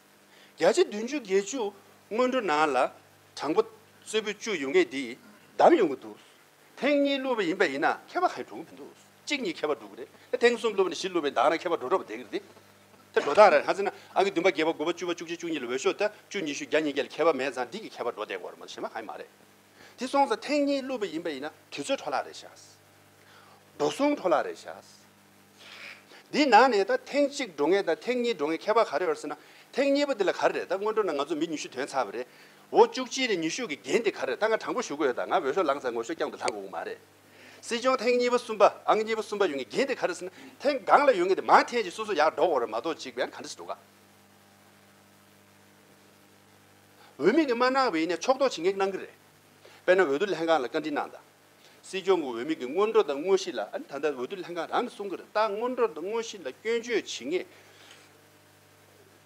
བརྒྱ་ཆ་བདུན་ཅུ་བརྒྱད་ཅུ་སྔོན་འགྲོ་ནང་ལ་དྲང་པོ་གསོལ་ཕོད་བཅུ་ཡོང་མཁན་འདིས་བདམས་ཡོང་གི་འདུག་ཐེངས་གཉིས་བསླུས་པ་ཡིན་པ་ཡིན་ན་མཁས་པ་ག་རེ་འགྲོ་གི་མི་འདུག་གཅིག་གཉིས་མཁས་པ་འགྲོ་གི་རེད་ཐེངས་གསུམ་བསླུས་པ་ནས་བཞི་བསླུས་པའི་འདང་ན་མཁས་པ་འགྲོ་འགྲོ་བ་བསྡད་ཀྱི་རེད་དེ་དེ་འགྲོ་སྟངས་རེད་ཧ་ཟེར་ན་ཨང་ཀི་བདུན་པ་བརྒྱད་པ་དགུ་པ་བཅུ་པ་བཅུ་གཅིག་བཅུ་གཉིས་ལ་འོས་ཤོག་ལྟ་བཅུ་ཉི་ཤུ་བརྒྱ་ཉིས་བརྒྱ་ལ་མཁས་པ་མེད་ཙང་འདི་གི་མཁས་པ་འགྲོ་བསྡད་གོ་རེ་མ་གཞན་པ་ག་རེ་མ་རེད་དེ་སོང་ཙང་ཐེངས་གཉིས་བསླུས་པ་ཡིན་པ་ཡིན་ན་དུས་ཚོད་འཕྲོ་བརླག་རེད་ཤག་འགྲོ་སོང་འཕྲོ་བརླག་རེད་ཤག། འདིའི་ནང་ནས་ད་ཐེངས་གཅིག་འགྲོ་ངེས་དང་ཐེངས་གཉིས་འགྲོ་ངེས་ཁྱད་པར་ག་རེ་ཡོད་ཟེར་ན། ཐེངས་གཉིས་པ་འདི་ལ་ག་རེ་རེད་ད་སྔོན་འགྲོ་ན་ང་ཚོ་མི་ཉུ་ཤུ་དོན་ཚར་བ་རེད། འོ་བཅུ་གཅིག་རེ་ཉུ་ཤུ་གི་འགན་འདི་ག་རེ་རེད་ད་ང་དྲང་པོ་ཞུ་གི་ཡོད་ད་ང་འོས་ཤོག་ལངས་ཚར་ངོས་ཤོག་རྐྱང་དུ་ལངས་དགོས་གི་མ་རེད། སྲིད་སྐྱོང་ཐེངས་གཉིས་པ་གསུམ་པ་ཨང་གཉིས་པ་གསུམ་པ་ཡོད་ངེས་འགན་འདི་ག་རེ་ཟེར་ན་ཐེངས་གང་ལ་ཡོད་ངེས་དེ་མང་ཐེངས་ཀྱི་སོ་སོ་ཡག་འགྲོ་གོ་རེ་མ་གཏོགས་གཅིག་པའི་ཡང་ག་འདྲ་ཞིག་འགྲོ་ག་འོས་མི་ངས་མ་གནང་བའི་ཡིན་ནས་ཕྱོགས་གཏོགས་བྱེད་ངེས་གནང་གི་རེད་དཔེར་ན་འོས་བསྡུ་ལྷན་ཁང་ལ་བཀའ་འདྲི་གནང་དང། སྲིད་སྐྱོང་གི་འོས་མི་གི་སྔོན་འགྲོ་དང་དངོས་གཞི་ལ་ཨ་ནི་ད་ལྟ་འོས་བསྡུ་ལྷན་ཁང་རང་གིས་གསུང་གི་རེད་ད་སྔོན་འགྲོ་དང་དངོས་གཞི་ལ་སྐྱོན་བརྗོད་བྱེད་ངེས།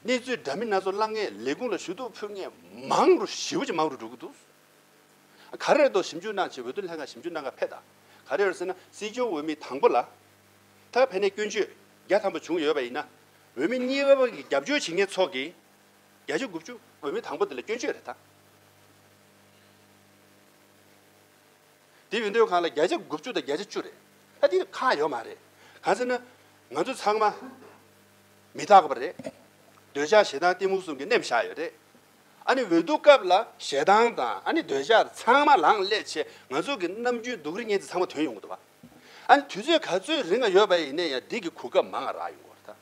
གནས་ཚུལ་འདྲ་མིན་སྣ་ཚོགས་བཀླག་ངེས་ལས་ཁུངས་ལ་ཞུ་གཏུག་ཕུལ་ངེས་མང་རུ་ཞི་བ་ཅིག་མང་རུ་འགྲོ་གི་འདུག་ག་རེ་རེད་ཞིབ་འཇུག་གནང་ཆེད་འོས་བསྡུ་ལྷན་ཁང་ཞིབ་འཇུག་གནང་ག་ཕེབས་དང་ག་རེ་རེད་ཟེར་ན་སྲིད་སྐྱོང་འོས་མི་དང་པོ་ལ་ད་ཕན་ནས་སྐྱོན་བརྗོད་བརྒྱ་ཐམ་པ་བྱུང་ཡོད་པ་ཡིན་ན་འོས་མི་གཉིས་པ་བར་གྱི་རྒྱབ་སྐྱོར་བྱེད་ངེས་ཚོགས་ཀྱི་བརྒྱ་ཆ་དགུ་བཅུ་འོས་མི་དང་པོ་དེ་ལ་སྐྱོན་བརྗོད་རེད་ད། དེ་འོས་འདོད་ཁང་ལ་བརྒྱ་ཆ་དགུ་བཅུ་དང་བརྒྱ་ཆ་བཅུ་རེད། ཨ་དེ་ཁག་ཡོད་མ་རེད། གང་ཟེར་ན། ང་ཚོ་ཚང་མ། མི་རྟག་པ་རེད། འདོད་ཆགས་ཞེ་སྡང་གཏི་མུག་གསུམ་གྱི་རྣེམས་བཞག་ཡོད་རེད། ཨ་ནི་འོས་བསྡུ་སྐབས་ལ་ཞེ་སྡང་དང་ཨ་ནི་འདོད་ཆགས་ཚང་མ་ལངས་སླད་ཆེད་ང་ཚོ་གི་ནམ་རྒྱུན་སྡུག་རི་ངན་དེ་ཚང་མ་དོན་ཡོང་གི་འདུག་བ། ཨ་ནི་དུས་ཚོད་ག་ཚོད་རིང་ང་ཡོད་པ་ཡིན་ནས་ཡང་སྡིག་གི་གོ་སྐབས་མང་ང་རག་ཡོང་གི་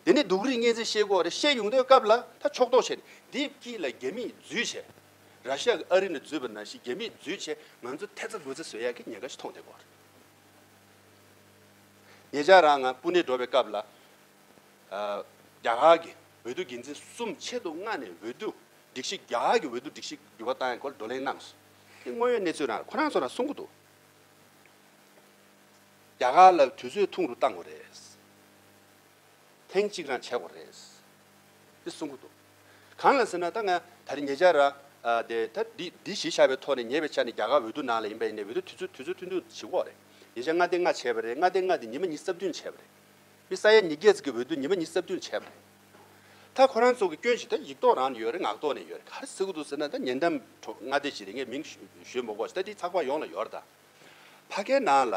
རེད། དེ་ནི་སྡུག་རི་ངན་ཚེ་ཤེས་སྒོ་རེད་བཤད་ཡོང་འདོད་སྐབས་ལ་ད་ཕྱོགས་གཏོགས་བྱས་ནས་དེབ་སྐྱིད་ལ་རྒྱ་མིས་རྫུས་བྱས། ར་ཤི་ཡ་གི་ཨ་རི་ནས་བརྫུས་པ་ན་ཤི་རྒྱ་མིས་བརྫུས་ཆེ་ང་ཚོ་ཐེ་ཚ་དགོད་ཚ་བཟོས་ཡག་གི་ཉེན་ཁ་ཞིག་མཐོང་བསྡད་གོ། ངེད་ཅག་རང་ང་སྤུན་ནེ་འགྲོ་བའི་སྐབས་ལ་རྒྱ་གར་གྱི་འོས་བསྡུ་འགན་འཛིན་གསུམ་ཆེད་དུ་མངགས་ནས་འོས་བསྡུ་སྒྲིག་གཞི་རྒྱ་གར་གྱི་འོས་བསྡུ་སྒྲིག་གཞི་འགྱུར་བ་བཏང་ཡག་སྐོར་བགྲོ་གླེང་གནང་སོང། དེ་དངོས་ཡོད་གནས་ཚུལ་རང་ཁོ་རང་ཚོ་རང་གསུང་གི་འདུག་རྒྱ་གར་ལ་དུས་ཚོད་ཐུང་རུ་བཏང་བ་རེད། ཐེངས་གཅིག་རང་བྱས་དགོས་རེད། དེ་གསུང་གི་འདུག་གང་ལ་ཟེར་ན་ད་ང་ད་རེ་ཉེ་ཆར་ར། ད་འདི་འདི་ཞེས་བྱ་བའི་ཐོག་ནས་ཉེ་བའི་ཆ་ནས་རྒྱ་གར་འོས་བསྡུ་ནང་ལ་ཡིན་པ་ཡིན་ནའི་འོས་བསྡུ་དུས་ཚོད་དུས་ཚོད་ཐུན་ཐུང་བྱེད་དགོས་རེད། ཉེ་ཆར་མངའ་སྡེ་ལྔ་བྱས་པ་རེད་མངའ་སྡེ་ལྔ་དེ་ཉི་མ་གཉིས་རྩ་བདུན་བྱས་པ་རེད། དཔེ་ས་ཡ་གཉིས་བརྒྱད་ཙིག་གི་འོས་བསྡུ་ཉི་མ་གཉིས་རྩ་བདུན་བྱས་པ་རེད། ད་ཁོ་རང་ཚོ་གི་སྐྱོན་ཞིག་ད་ཡིག་ཐོག་རང་ནས་ཡོད་རེད་ངག་ཐོག་ནས་ཡོད་རེད་ག་རེ་ཟེར་གི་འདུག་ཟེར་ན་ད་ཉེ་འགྲམ་མངའ་སྡེ་ཞིག་རེད་ངས་མིང་ཞུས་མི་དགོས་ཞེས་ད་འདི་ཚགས་པར་ཡོངས་ལ་ཡོད་རེད་ད། ཕ་སྐད་ནང་ལ།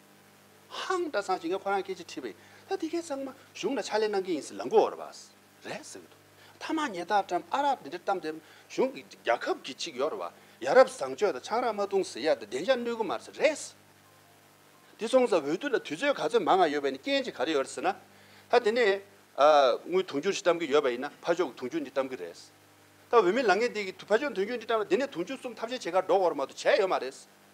ཧཱུྃ། བཀྲ་ཚང་ཞིག་ངས་ཁོ་རང་སྐད་ཅིག་ཁྲིད་པ་ཡིན། ད་ཐིག་ཁའི་ཚང་མ་གཞུང་ལ་ཕྱག་ལས་གནང་གི་ཡིན་ཟེར་ལ་མགོ་བོར་བ། རེད་ཟེར་གྱི་འདུག་མཐའ་མ་ངེད་རྟ་ཀྲམ་ཨ་རག་འདི་འདྲའི་གཏམ་དེ་གཞུང་གི་རྒྱ་ཁབ་ཀྱི་ཅིག་ཡོད་རེད་བ། ཡ་རབས་བཟང་སྤྱོད་དང་ཆང་རག་མ་བཏུང་ཟེར་ཡ་དེ་བདེ་འཇགས་གནོད་གི་མ་རེད་ཟེར་རེད་ཟེར། དེ་སོང་ཙང་འོས་བསྡུ་ལ་དུས་ཚོད་ག་ཚོད་མང་ང་ཡོད་པའི་ནི་རྐྱེན་གཅིག་ག་རེ་ཡོད་རེད་ཟེར་ན། ད་དེ་ནས་དངུལ་དུང་ཕྱུར་ཞིག་གཏམ་གི་ཡོད་པ་ཡིན་ན་ཕ་ཕྱོགས་ཀྱི་དུང་ཕྱུར་འདི་གཏམ་གི་རེད་ཟེར། ད་འོས་མི་ལང་ངེ་འདི་གི་ཕ་ཕྱོགས་དུང་ཕྱུར་འདི་གཏམ་ན་དེ་ནས་དུང་ཕྱུར་གསུམ་ཐབས་ཤེས་བྱེད་ཁར་འགྲོ་དགོས་རེད་མ་གཏོགས་བྱས་ཡོད་མ་རེད་ཟེར།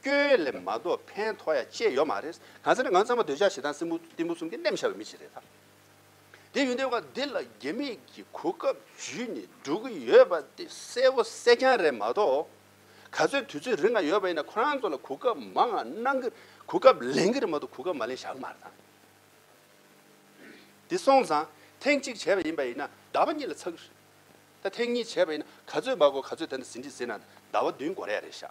སྐྱོན་ལས་མ་གཏོགས་ཕན་ཐོགས་ཡ་ཅེས་ཡོད་མ་རེད། གང་ཟེར་ན་ང་ཚང་མ་འདོད་ཆགས་ཞེ་སྡང་སྲིན་མོ་གཏི་མུག་གསུམ་གྱིས་བསྣེམས་བཞག་པའི་མི་ཞིག་རེད་ད། དེ་ཡོན་ཏན་བ་འདི་ལ་རྒྱ་མི་གི་གོ་སྐབས་བརྒྱུད་ནས་འགྲོ་གི་ཡོད་པ་དེ་གསལ་བོ་གསལ་རྐྱང་རེད་མ་གཏོགས། ག་ཚོད་དུས་ཚོད་རིང་ང་ཡོད་པ་ཡིན་ན་ཁོ་རང་ཚོ་ལ་གོ་སྐབས་མང་ང་གནང་གི་གོ་སྐབས་ལེན་གི་རེད་མ་གཏོགས་གོ་སྐབས་མ་ལེན་བཞག་གི་མ་རེད་ད། དེ་སོང་ཙང་ཐེངས་གཅིག་བྱས་པ་ཡིན་པ་ཡིན་ན་ཟླ་བ་གཉིས་ལ་ཚར་གི་རེད། ད་ཐེངས་གཉིས་བྱས་པ་ཡིན་ན་ག་ཚོད་མ་གོ་ག་ཚོད་ད་ཟིན་བྲིས་ཟིན་ན་ཟླ་བ་བདུན་འགོར་ཡ་རེད་བཞག།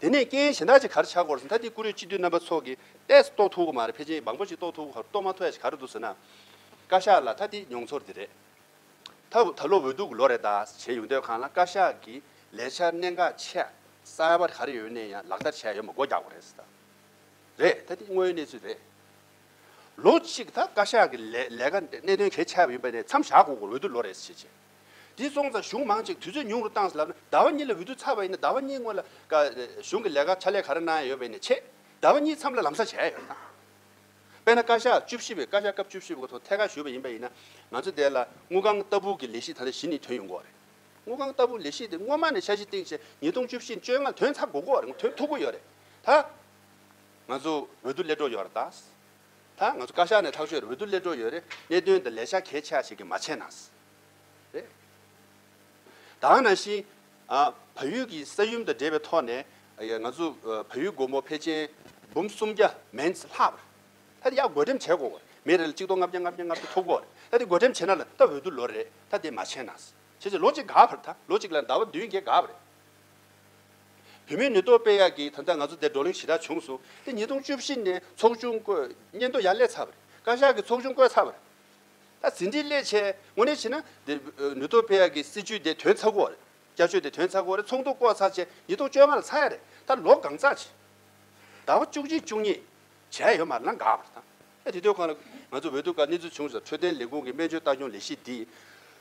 དེ་ནས་རྐྱེན་གཞན་དག་ཅིག་གར་ཆག་གོ་ཟེར་ད་དེ་ཀུ་རེ་སྤྱི་འཐུས་རྣམ་པ་ཚོ་གི་ལྟས་སུ་རྟོགས་ཐུབ་ཀི་མ་རེད་ཕལ་ཆེར་མང་པོ་ཞིག་རྟོགས་ཐུབ་ཀི་རྟོགས་མ་ཐུབ་ཡ་ཞིག་གར་འདུག་ཟེར་ན། བཀའ་ཤག་ལ་ད་དེ་མྱོང་ཚོར་དེ་རེད། ད་ད་ལོ་འོས་ལྡུག་གི་ལོ་རེད་ད་བྱས་ཡོང་དུས་གང་ལ་བཀའ་ཤག་གི་ལས་འཆར་གནད་འགག་ཆེ་གསར་པ་ག་རེ་ཡོད་ནས་ཡང་ལག་བསྟར་བྱས་ཡོད་མ་སྒོ་རྒྱག་པ་རེད་ཟེར་ད་རེད་ད་དེ་དངོས་ཡོད་གནས་ཚུལ་རེད། ལོ་གཅིག་ད་བཀའ་ཤག་གི་ལས་ལས་ཀ་གནད་དོན་གས་ཆག་པ་ཡིན་པ་ནས་མཚམས་བཞག་གོ་འོས་ལྡུག་ལོ་རེད་ཟེར་བྱས་བྱས། དེ་སོང་ཙང་གཞུང་མང་ཅིག་དུས་ཚོད་ཉུང་རུ་བཏང་ཟེར་ལབ་ན་ཟླ་བ་གཉིས་ལ་འོས་བསྡུ་ཚར་བ་ཡིན་ན་ཟླ་བ་གཉིས་སྔོན་ལ་གཞུང་གི་ལས་ཀ་ཕྱག་ལས་ག་རེ་གནང་ཡ་ཡོད་བས་ནས་ཆད། ཟླ་བ་གཉིས་མཚམས་ལ་ལམ་སང་བྱས་ཡ་ཡོད་དང། དཔེར་ན་བཀའ་ཤག་བཅུ་བཞི་བའི་བཀའ་ཤག་སྐབས་བཅུ་བཞི་བའི་གོ་ཐོག་ཐད་ཀར་ཞུས་པ་ཡིན་པ་ཡིན་ན་ང་ཚོ་དེ་ལ་དངུལ་ཁང་ལྟ་བུ་གི་ལས་གཞི་ད་ལྟ་བཞི་ནི་དོན་ཡོང་གོ་རེད། དངུལ་ཁང་ལྟ་བུ་ལས་གཞི་དེ་སྔོན་མ་ནས་འཆར་གཞི་བཏིང་ཆེད་ཉིས་སྟོང་བཅུ་བཞི་བཅོ་ལྔ་དོན་ཚར་དགོས་གོ་རེད་དོན་ཐུག་གོ་ཡོད་རེད། ད་ང་ཚོ་འོས་བསྡུ་སླེབས་གྲོགས་ཡོད་རེད་ད། ད་ང་ཚོ་བཀའ་ཤག་ནས་ཐག་གཅོད་རེད་འོས་བསྡུ་སླེབས་འགྲོ་ཡོད་རེད་གནད་དོན་འདི་ལས་ཤག་གལ་ཆེ་བ་ཞིག་གིས་མ་བྱས་ན། རེད་དེ། དང་ན་གཞི། བལ་ཡུལ་གྱི་ས་ཡུམ་དང་འབྲེལ་བའི་ཐོག་ནས། ང་ཚོ་བལ་ཡུལ་སྒོར་མོ་ཕལ་ཆེན་འབུམ་སུམ་བརྒྱ་མེད་ལྷག་རེད། ད་དེ་ཡག་བགོ་འགྲེམས་བྱས་དགོས་རེད། མི་རེ་ལ་གཅིག་སྟོང་ལྔ་བརྒྱ་ལྔ་བརྒྱ་ལྔ་བརྒྱ་ཐོབ་དགོས་རེད། ད་དེ་བགོ་འགྲེམས་བྱས་ན་ལ་ད་འོས་བསྡུ་ལོ་རེད། ད་དེ་མ་བྱས་ན། བྱས་བྱས་ལོ་གཅིག་འགག་བར་ད་ལོ་གཅིག་ལ་ཟླ་བ་བདུན་བརྒྱད་འགག་པ་རེད། བུད་མེད་ནུས་སྟོབས་དཔེ་ཡག་གིས་ད་ལྟ་ང་ཚོ་སྡེར་བགྲོ་གླེང་ཞེ་དྲག་བྱུང་སོང་སྟེ་ཉིས་སྟོང་བཅུ་བཞི་ནས་ཚོགས་ཆུང་བསྐོས་སྙན་ཐོ་ཡར་ལས་ཚར་བ་རེད་བཀའ་ཤག་གི་ཚོགས་ཆུང་བསྐོས་ཚར་བ་རེད་ད་ཟིན་བྲིས་སླད་ཆད་དངོས་གནས་བྱས་ན་སྡེར་ནུས་སྟོབས་དཔེ་ཡག་གི་སྲིད་བྱུས་དེ་དོན་ཚ་གོ་བ་རེད་བསྐྱར་བཅོས་དེ་དོན་ཚ་གོ་རེད་ཚོགས་འདུ་བསྐོ་ཚར་ཆད་ཉིས་སྟོང་བཅོ་ལྔ་ལ་ཚར་ཡ་རེད་ད་ལོ་གང་ཚགས་བྱས་ཟླ་བ་བཅུ་གཅིག་བཅུ་གཉིས་བྱས་ཡོད་མ་རེད་ན་འགག་པ་རེད་ད། ཨ་རིའི་སྡོད་ཁང་ལ། ང་ཚོ་འོས་བསྡུ་སྐབས་གནས་ཚུལ་བྱུང་ཟེར་འཕྲོད་བསྟེན་ལས་ཁུངས་ཀྱི་སྨན་བཅོས་ལྟ་སྐྱོང་ལས་གཞི་འདིས།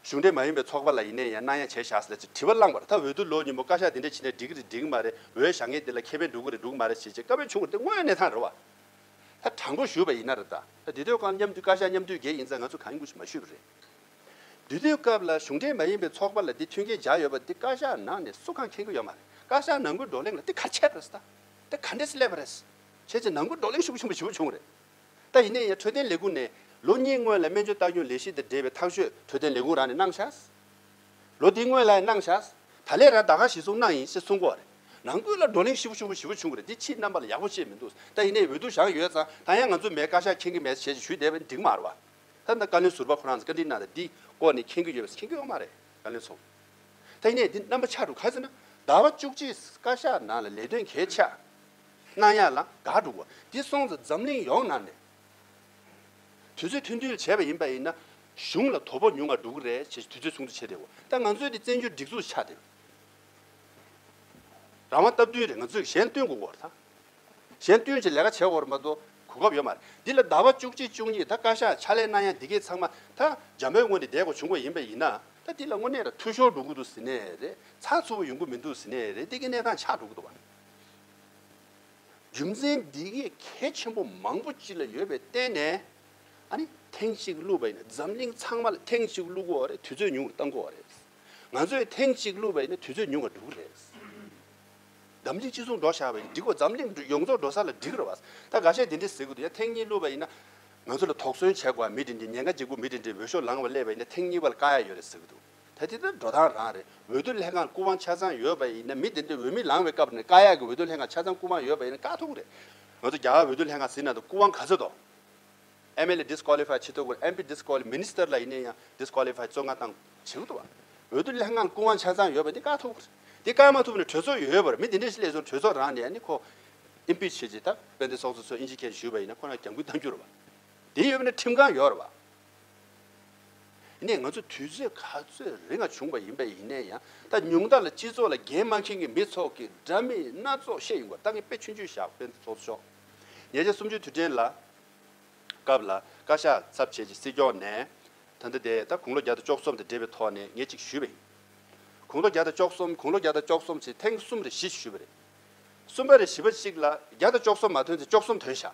གཞུང་འབྲེལ་མ་ཡིན་པའི་ཚོགས་པ་ལ་ཡིན་ནའི་ཡང་སྣང་ཡང་བྱས་བཞག་ཟེར་ཅེས་དྲི་བ་བསླངས་པར་ད་འོས་བསྡུ་ལོ་གཉིས་པོ་བཀའ་ཤག་འདི་འདྲ་བྱས་ནས་འགྲིག་གི་རེད་འགྲིག་གི་མ་རེད་འོས་ཤག་ངེས་འདི་ལ་ཁེ་ཕན་འགྲོ་གི་རེད་འགྲོ་གི་མ་རེད་བྱས་རྗེས་བཀའ་བོན་བྱུང་བར་དེ་དངོས་གནས་ཐང་རེད་བ། ད་དྲང་པོ་ཞུས་པ་ཡིན་ན་རེད་ད། ད་འདི་སྡོད་ཁང་མཉམ་འཐུས་བཀའ་ཤག་མཉམ་འཐུས་འགས་ཡིན་ཙང་ང་ཚོ་གང་གི་སྐུ་ཞིག་མ་ཞུས་པ་རེད། འདུས་སྡོད་སྐབས་ལ་གཞུང་འབྲེལ་མ་ཡིན་པའི་ཚོགས་པ་ལ་འདི་མཐུན་རྐྱེན་བཞག་ཡོད་པ་འདི་བཀའ་ཤག་ནང་ནས་སུ་གང་མཁྱེན་གི་ཡོད་མ་རེད་བཀའ་ཤག་ནང་ཁུལ་བགྲོ་གླེང་ལ་འདི་ག་འཆད་པ་རེད་ད། འདི་ག་འདྲས་སུ་སླེབས་པ་རེད། ཁྱེད་ཀྱི་ནང་ཁུལ་བགྲོ་གླེང་ཤུགས་ཆེན་པོ་ཞུ་རྒྱུ་བྱུང་བ་རེད། ད་ཡིན་ནའི་ཡང་འཕྲོད་བསྟེན་ལས་ཁུངས་ནས་ལོ་གཉིས་སྔོན་ལ་སྨན་བཅོས་ལྟ་སྐྱོང་ལས་གཞི་དང་འབྲེལ་བའི་ཐག་གཅོད་འཕྲོད་བསྟེན་ལས་ཁུངས་རང་ནས་གནང་བཞག་ལོ་དེའི་སྔོན་ལ་ཡང་གནང་བཞག་ད་ལས་ར་ད་ག་ཞིག་སོང་གནང་ཡིན་ཞེས་གསུངས་གོ་རེད། ནང་ཁུལ་ལ་བགྲོ་གླེང་ཤུགས་ཆེན་པོ་ཞུ་རྒྱུ་བྱུང་བ་རེད་འདི་ཕྱིའི་རྣམ་པ་ལ་ཡག་པོ་བཤད་མི་འདུག་ད་ཡིན་ནའི་འོས་བསྡུ་བཞག་ཡོད་ཙང་ད་ཡང་ང་ཚོ་མའི་བཀའ་ཤག་མཁྱེན་གྱི་མེད་ཟེར་ཞེས་ཞུས་བསྡད་པ་འགྲིག་མ་རེད་བ། ད་ད་བཀའ་བློན་ཟུར་པ་ཁོ་རང་ཚོས་བཀའ་དྲིན་གནང་སྟེ་འདི་སྐོར་ནས་མཁྱེན་གྱི་ཡོད་པ་མཁྱེན་གྱི་ཡོད་མ་རེད་བཀའ་བློན་ཚོ། ད་ཡིན་ནའི་འདི་རྣམ་པ་ཆགས་འགྲོ་ག་ཚོད་ན་ཟླ་བ་བཅུ་གཅིག་བཀའ་ཤག་ནང་ལ་ལས་དོན་གས་ཆགས། སྣང་ཡང་ལ་དྭགས་འགྲོ་དགོས། དེ་སོང་ཙང་འཛམ་གླིང་ཡོངས་ནང་ནས་དུས་ཚོད་མཐུན་སྒྲིལ་བྱས་པ་ཡིན་པ་ཡིན་ན་གཞུང་ལ་དོ་ཕོག་ཉུང་བ་འགྲོ་གི་རེད་ཅེས་དུས་ཚོད་ཚོགས་འདུ་བྱས་རེད་བ། ད་ང་ཚོའི་དེ་བཙན་བྱོལ་སྒྲིག་འཛུགས་ཆགས་དེ། རང་དབང་སྟབས་བསྟུན་རེད་ང་ཚོས་གཞན་སྟོན་དགོས་བར་དང། གཞན་སྟོན་གྱི་ལས་ཀ་བྱེད་བར་མ་གཏོགས་གོ་སྐབས་ཡོད་མ་རེད། འདི་ལ་ཟླ་བ་བཅུ་གཅིག་བཅུ་གཉིས་ད་བཀའ་ཤག་ཕྱག་ལས་གནང་ཡ་འདི་གས་ཚང་མ་ད་རྒྱ་མོའི་སྔོན་དེ་བསྡད་དགོས་བྱུང་བ་ཡིན་པ་ཡིན་ན་ད་འདི་ལ་དངོས་གནས་ལ་འཐུས་ཤོར་འགྲོ་གི་འདུག་ཟེར་ནས་རེད་ཚགས་ཚུད་པོ་ཡོང་གི་མི་འདུག་ཟེར་ནས་རེད་འདི་གས་གནས་སྟངས་ཆགས་འགྲོ་གི་འདུག་བ། རྒྱུ་མཚན་འདི་སྐད་གལ་ཆེན་པོ་མང་པོ་ཅི་ལ་ཡོད་པའི་བརྟེན་ནས་ཐེངས་གཅིག་བསླུས་པ་ཡིན་ན་འཛམ་གླིང་ཚང་མ་ལ་ཐེངས་གཅིག་བསླུ་གོ་བ་རེད་དུས་ཚོད་ཉུང་བ་གཏང་གོ་བ་རེད། ང་ཚོས་ཐེངས་གཅིག་བསླུས་པ་ཡིན་ན་དུས་ཚོད་ཉུང་བ་འགྲོ་གི་རེད། འཛམ་གླིང་སྤྱི་ཚོགས་འགྲོ་བཞག་པ་ཡིན་འགྲིག་གོ་འཛམ་གླིང་ཡོངས་རྫོགས་འགྲོ་ས་ལ་འགྲིག་རེད་བ། ད་ག་ཤེད་དེ་འདྲས་ཟེར་གི་འདུག་ཡ་ཐེངས་གཉིས་བསླུས་པ་ཡིན་ན་ང་ཚོ་ལ་དོགས་ཟོན་བྱས་གོ་བ་མི་དེ་འདྲས་ཉེན་ཁ་འཇིགས་གོ་མི་དེ་འདྲས་འོས་ཤོག་ལངས་བ་སླེབས་པ་ཡིན་ན་ཐེངས་གཉིས་བ་ལ་དཀའ་ཡ་ཡོད་རེད་ཟེར་གི་འདུག། ད་དེ་ལྟར་འགྲོ་སྟངས་རང་རེད་འོས་བསྡུ་ལྷན་ཁང་སྐུ་དབང་ཆ་ཚང་ཡོད་པ་ཡིན་ན་མི་དེ་འདྲས་འོས་མི་ལང་བའི་སྐབས་ནས་བཀའ་ཡག་གི་འོས་བསྡུ་ལྷན་ཁང་ཆ་ཚང་སྐུ་དབང་ཡོད་པ་ཡིན་ན་དཀའ་ཐུག་རེད། ང་ཚོ་རྒྱ་གར་འོས་བསྡུ་ལྷན་ཁང་ཟིན་ན་དང་སྐུ་དབང་ག་ཚོད་དང། MLA Disqualify བྱེད་ཐུབ་དགོས MP Disqualify Minister ལ་ཡིན་ན་ཡང Disqualify བཙོན་ཁང་བཏང་བྱེད་དགོས་དུ་བ། འོས་བསྡུ་ལྷན་ཁང་སྐུ་དབང་ཆ་ཚང་ཡོད་པ་འདི་དཀའ་ཐུག་རེད། འདི་དཀའ་མ་ཐུབ་ན་གྲོས་ཚོགས་ཡོད་པར་མི་དེ་འདྲས་སླེབས་སོང་གྲོས་ཚོགས་རང་ནས་ཡང་ནི་ཁོ Impeach བྱེད་ཅེས་དང་དཔལ་ལྡན་སོགས་ཚོ་ཚོས་ཨིན་ཇི་མཁན་ཞུས་པ་ཡིན་ན་ཁོ་རང་གྱང་གུད་བཏང་རྒྱུ་རེད་བ། དེ་ཡོད་པ་ན་ཁྲིམས་ཁང་ཡོད་རེད་བ། ནས་ང་ཚོ་དུས་ཚོད་ག་ཚོད་རིང་ལ་བྱུང་བ་ཡིན་པ་ཡིན་ནའི་ཡང་ད་ཉུང་དག་ལ་སྤྱི་ཚོགས་ལ་འགན་མ་མཁན་གྱི་མི་ཚོགས་ཀྱི་དྲ་མིག་སྣ་ཚོགས་ཤེས་ཡོང་བ་ད་ངས་དཔེ་ཆུང་ཆུང་ཞག་བོད་དུ་ཚོགས་ཆོག་ཉེ་ཆར་སུམ་ཅུ་དུས་དྲན་ལ་སྐབས་ལ་བཀའ་ཤག་ཚབ་བྱས་ཀྱི་སྲིད་སྐྱོང་ནས་ད་ལྟ་དེ་ད་དགུང་ལོ་བརྒྱ་དང་བཅོ་གསུམ་དང་འབྲེལ་བའི་ཐོག་ནས་ངས་ཅིག་ཞུས་པ་ཡིན། དགུང་ལོ་བརྒྱ་དང་བཅོ་གསུམ་དགུང་ལོ་བརྒྱ་དང་བཅོ་གསུམ་ཚེ་ཐེངས་གསུམ་རེ་བཞི་ཞུས་པ་རེད། གསུམ་པ་རེ་བཞི་པ་ཅིག་ལ་བརྒྱ་དང་བཅོ་གསུམ་མ་ཐོན་ཚེ་བཅོ་གསུམ་ཐོན་ཞག།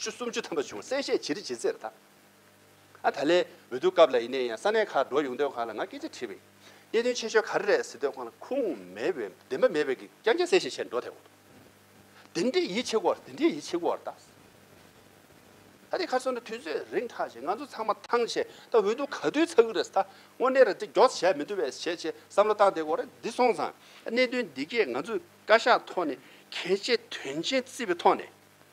ཆུ་སུམ་ཅུ་ཐམ་པ་བྱུང་བ་གསལ་བཤད་ཇི་རིགས་ཇི་མཛད་པ་དག་ཨ་ད་ལའི་འོས་བསྡུ་སྐབས་ལ་ཡིན་ནའི་ཡང་ས་གནས་ཁག་འགྲོ་ཡོང་སྡོད་ཁང་ལ་ང་སྐད་ཆ་དྲིས་པ་ཡིན། གནད་དོན་ཆེ་ཤོས་ག་རེ་རེད་ཟེར་སྡོད་ཁང་ལ་ཁུངས་མེད་པའི་བདེན་པ་མེད་པའི་གི་རྐྱང་རྐྱང་གསལ་བཤད་བྱས་འགྲོ་ཐལ་གོ། དེ་འདྲའི་ཡིད་ཆེས་བར་དེ་འདྲའི་ཡིད་ཆེས་བར་དག་ད་དེ་ཁ་སོང་ན་དུས་ཚོད་རིང་ཐག་བྱས་ང་ཚོ་ཚང་མ་ཐང་ཆད་ད་འོས་བསྡུ་ག་དུས་ཚགས་ཀྱི་རེད་ད་དངོས་གནས་རེད་དེ་མགྱོགས་ཚ་བྱས་མི་འདུག་བས་བྱས་བྱས་བསམ་བློ་བཏང་དེ་གོ་རེད་འདི་སོང་ཙང་གནད་དོན་འདི་གས་ང་ཚོས་བཀའ་ཤག་ཐོག་ནས་གལ་ཆེ་དོན་ཆེན་བརྩི་བའི་ཐོག་ནས།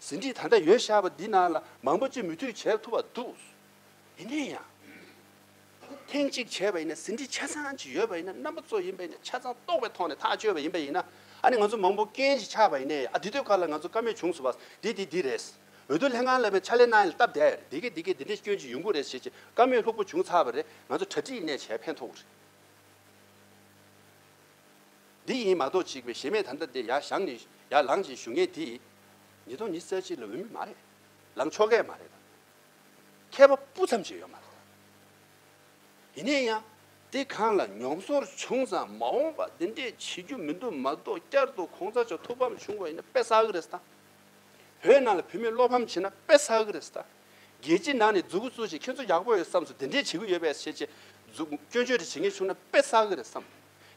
ཟིན་བྲིས་ད་ལྟ་ཡོད་ཤག་པ་འདི་ནང་ལ་མང་པོ་ཅི་མི་འཐུས་བྱས་ཐུབ་པ་འདུག་ཡིན་ནའི་ཡང། ཐེངས་གཅིག་བྱས་པ་ཡིན་ན་ཟིན་བྲིས་ཆ་ཚང་གཅིག་ཡོད་པ་ཡིན་ན་རྣམ་པ་གཙོ་ཡིན་པ་ཡིན་ན་ཆ་ཚང་རྟོགས་པའི་ཐོག་ནས་ཐག་གཅོད་པ་ཡིན་པ་ཡིན་ན་ཨ་ནི་ང་ཚོ་མང་པོ་རྐྱེན་གྱིས་ཆགས་པ་ཡིན་ནའི་ཨ་འདི་དུས་བཀའ་ལ་ང་ཚོ་བཀའ་མོལ་བྱུང་སོང་བ་འདི་འདི་འདི་རེད། འོས་བསྡུ་ལྷན་ཁང་ལ་བའི་ཕྱག་ལས་གནང་ཡིན་ལ་སྟབས་བདེ་རེད་འདི་གས་འདི་གས་འདི་འདྲའི་སྐྱོན་གྱི་ཡོང་ཁུངས་རེད་ཞེས་ཀྱི་བཀའ་མོལ་ལྷུག་པོ་བྱུང་ཚར་བ་རེད་ང་ཚོ་གྲ་སྒྲིག་ནས་བྱས་ཕན་ཐོགས་རེད། འདི་ཡིན་མ་གཏོགས་གཅིག་པའི་གཞལ་མེད་དམ་བཏབ་སྟེ་ཡར་བཞག་ནས་ཡར་ལངས་ཀྱི་ཞུ་མཁན་དེས། ཉིས་སྟོང་ཉིས་བརྩེགས་གཅིག་ལ་འོས་མིན་མ་རེད། ལངས་ཆོག་གི་མ་རེད་དམ། མཁས་པ་སྤུ་ཙམ་གཅིག་ཡོད་མ་རེད་དམ། ཡིན་ནའི་ཡང། དེ་གང་ལ་མྱོང་ཚོར་བྱུང་ཙང་མ་འོངས་པ་འདི་འདྲས་བྱེད་རྒྱུ་མི་འདུག་མ་གཏོགས་བསྐྱར་དུ་ཁོང་ཚ་ཆ་ཐུག་ཕམ་བྱུང་བ་ཡིན་ན་དཔེ་བསགས་ཀྱི་རེད་ད། བོད་ནང་ལ་བུད་མེད་བློ་ཕམ་བྱེད་ན་དཔེ་བསགས་ཀྱི་རེད་ད། རྒྱལ་སྤྱིའི་ནང་ནས་རྫུ་གུ་བཙུགས་ཤིང་ཁྱོད་ཚོ་ཡག་པོ་ཡོད་བསམས་སུ་འདི་འདྲས་བྱེད་ཀྱི་ཡོད་པས་བྱས་རྗེས་རྫུ་སྐྱོན་བརྗོད་བྲིས་བྱེད་མཁན་བྱུང་ན་དཔེ་བསགས་ཀྱི་རེད་བསམས།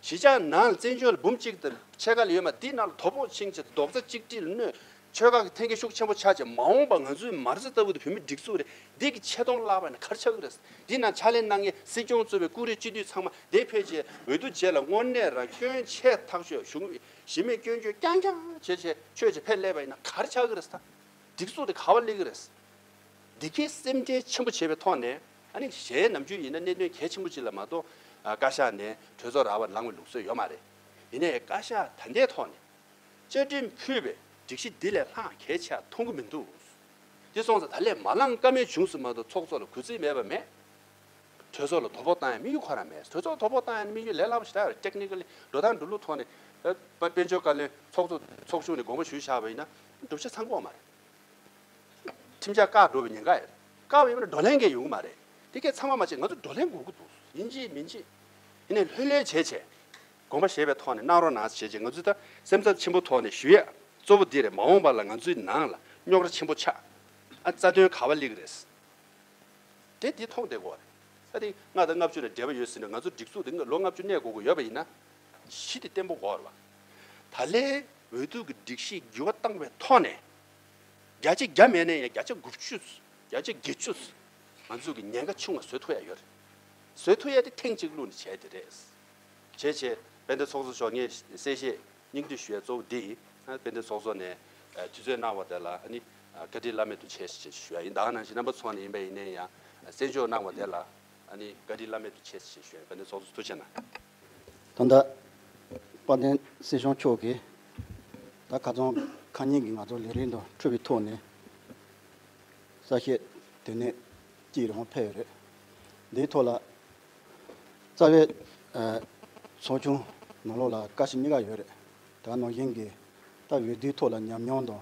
གཞིས་ཆགས་ནང་བཙན་བྱོལ་འབུམ་གཅིག་དེར་ཆས་དཀའ་ལས་ཡོད་མ་དེའི་ནང་ལ་དོ་ཕོག་ཕྱིན་ཆད་རྡོག་རྩ་གཅིག་སྒྲིལ་གནོད། ཆོལ་ཁ་གི་འཐེན་འཁྱེར་ཤུགས་ཆེན་པོ་ཆགས་ཅིག་མ་འོངས་པ་ང་ཚོའི་མར་ཟི་ལྟ་བུ་དེ་བོད་མི་སྒྲིག་འཛུགས་རེ་འདིག་གི་ཆེ་མཐོང་བརླག་པ་ནི་གར་ཆག་གི་རེད། དེའི་ནང་ཕྱག་ལས་གནང་མཁན་སྲིད་སྐྱོང་གཙོས་པའི་ཀུ་རེ་སྤྱི་འཐུས་ཚང་མ་དེ་ཕལ་ཆེ་འོས་བསྡུ་རྗེས་ལ་དངོས་གནས་རང་སྐྱོན་ཆེ་ཐག་ཆོད་ཞུ་གི་གཞི་མེད་སྐྱོན་བརྗོད་རྐྱང་རྐྱང་བྱེད་ཆེད་ཆོས་བྱེད་ཕེབས་སླེབས་པ་ཡིན་ན་གར་ཆག་གི་རེད། སྒྲིག་འཛུགས་དེ་ག་བ་ལེགས་གི་རེད། འདི་གས་སེམས་ཁྲལ་ཆེན་པོ་བྱེད་པའི་ཐོག་ནས། ཨ་ནི་གཞན་ནམ་རྒྱུན་ཡིན་ན་གནད་དོན་གལ་ཆེན་པོ་གཅིག་ལ་མ་གཏོགས་བཀའ་ཤག་ནས་གྲོས་ཚོགས་ར་བར་ལངས་བའི་ལུགས་སྲོལ་ཡོད་མ་རེད། ཡིན་ནའི་བཀའ་ཤག་ད་ལྟའི་ཐོག་ནས་བཅའ་ཁྲིམས་ཕུད་པའི་སྒྲིག་གཞི་འདི་ལས་ལྷག་གལ་ཆེ་བ་མཐོང་གི་མི་འདུག་འདི་སོང་ཙང་ད་ལས་མ་ལངས་ཀ་མེད་བྱུང་ཟིན་མ་གཏོགས་ཚོགས་གཙོ་ལ་གུས་བརྩི་མེད་པ་མེད། གྲོས་ཚོགས་ལ་དོ་ཕོག་བཏང་ཡང་དམིགས་ཡུལ་ཁོ་རང་མེད་གྲོས་ཚོགས་དོ་ཕོག་བཏང་ཡང་དམིགས་ཡུལ་ལས་སླ་པོ་ཞིག་ད Technically འགྲོ་སྟངས་འགྲོ་ལུགས་ཐོག་ནས་དཔལ་འབྱོར་བཀའ་བློན་ཚོགས་གཙོ་ཚོགས་ཆུང་ནས་དགོངས་པ་ཞུས་བཞག་པ་ཡིན་ན་བསྒྲུབ་བྱ་ཚང་དགོངས་མ་རེད། ཁྲིམས་འཆར་བཀག་འགྲོ་བའི་ཉེན་ཁ་ཡོད། བཀག་བའི་དབང་གིས་བགྲོ་གླེང་འགའ་ཡོང་གི་མ་རེད། དེ་སྐད་ཚང་མ་མ་བྱས་ང་ཚོ་བགྲོ་གླེང་དགོས་ཀྱི་འདུག་ཡིན་གཅིག་མིན་གཅིག། ཡིན་ནས་ལྷོད་ལྷོད་བྱས་བྱས། དགོངས་པ་བཞེས་པའི་ཐོག་ནས་གནང་རོགས་གནང་བྱས་བྱས་ང་ཚོའི་ད་སེམས་འཚབ་ཆེན་པོ་ཐོག་ནས་ཞུ་ཡ་གཙོ་བོ་འདི་རེད་མ་འོངས་པ་ལ་ང་ཚོའི་ནང་ལ་རྙོག་ར་ཆེན་པོ་ཆགས་ཨ་རྩ་དོན་ག་བ་ལེགས་རེད་ཟེར། དེ་འདི་ཐོག་འདེགས་དགོས་རེད། ཨ་ཏི་ལྔ་དང་ལྔ་བཅུ་ལ་འབྲེལ་བ་ཡོད་ཟེར་ནས་ང་ཚོ་སྒྲིག་འཛུགས་འདི་ལོ་ལྔ་བཅུ་གནས་དགོས་ཀྱི་ཡོད་པ་ཡིན་ན། གཞི་དེ་བརྟན་པོ་བོར་བ། ད་ལན་འོས་བསྡུ་གི་སྒྲིག་གཞི་འགྱུར་བ་བཏང་བའི་ཐོག་ནས། བརྒྱ་ཆའི་བརྒྱ་མེད་ན་ཡང་བརྒྱ་ཆ་དགུ་བཅུ། བརྒྱ་ཆ་བརྒྱད་བཅུ། ང་ཚོ་གི་ཉེན་ཁ་ཆུང་བ་བཟོད་ཐུབ་ཡ་ཡོད་རེད། བཟོད་ཐུབ་ཡ་དེ་ཐེངས་གཅིག་བླུགས་ནས་བྱས་དེ་རེད། བྱས་བྱས། དཔལ་ལྡན་ཚོགས་གཙོ་མཆོག་ངས་གསལ་བཤད་སྙིང་བསྡུས་ཞུ་ཡ་གཙོ་བོ་འདི་ཡིན། དཔལ་ལྡན་ཚོགས་གཙོ་ནས་དུས་ཚོད་གནང་བ་དེ་ལ་ཨ་ནི་བཀའ་དྲིན་བླ་མེད་དུ་ཆེ་ཞེས་ཞུ་ཡ་ཡིན། ད་ནང་བཞིན་རྣམ་པ་ཚོགས་ནས་ཡིན་པ་ཡིན་ནའི་ཡང་གསན་འཇོག་གནང་བ་དེ་ལ་ཨ་ནི་བཀའ་དྲིན་བླ་མེད་དུ་ཆེ་ཞེས་ཞུ་ཡ་ཡིན། དཔལ་ལྡན་ཚོགས་གཙོ་ཐུགས་ཆེ་གནང། ད་ལྟ་དཔལ་ལྡན་སྲིད་སྐྱོང་མཆོག་གིས་ད་ག་ཚོང་ཁ་སྙིང་གིས་ང་ཚོ་ལས་རིགས་འདུ་འཕྲོད་པའི་ཐོག་ནས་གསལ་བཤད་དེ་ནས་ཅིག་རེ་བོང་ཕེབས་ཡོད་རེད། འདིའི་ཐོག་ལ་རྩ་བའི་ཚོགས་ཆུང་ནང་ལོགས་ལ་བཀའ་ཞིག་གཉིས་ཀ་ཡོད་རེད། ད་ནང་བཞིན་གྱི་ད་འོས་བསྡུའི་ཐོག་ལ་ཉམས་མྱོང་དང་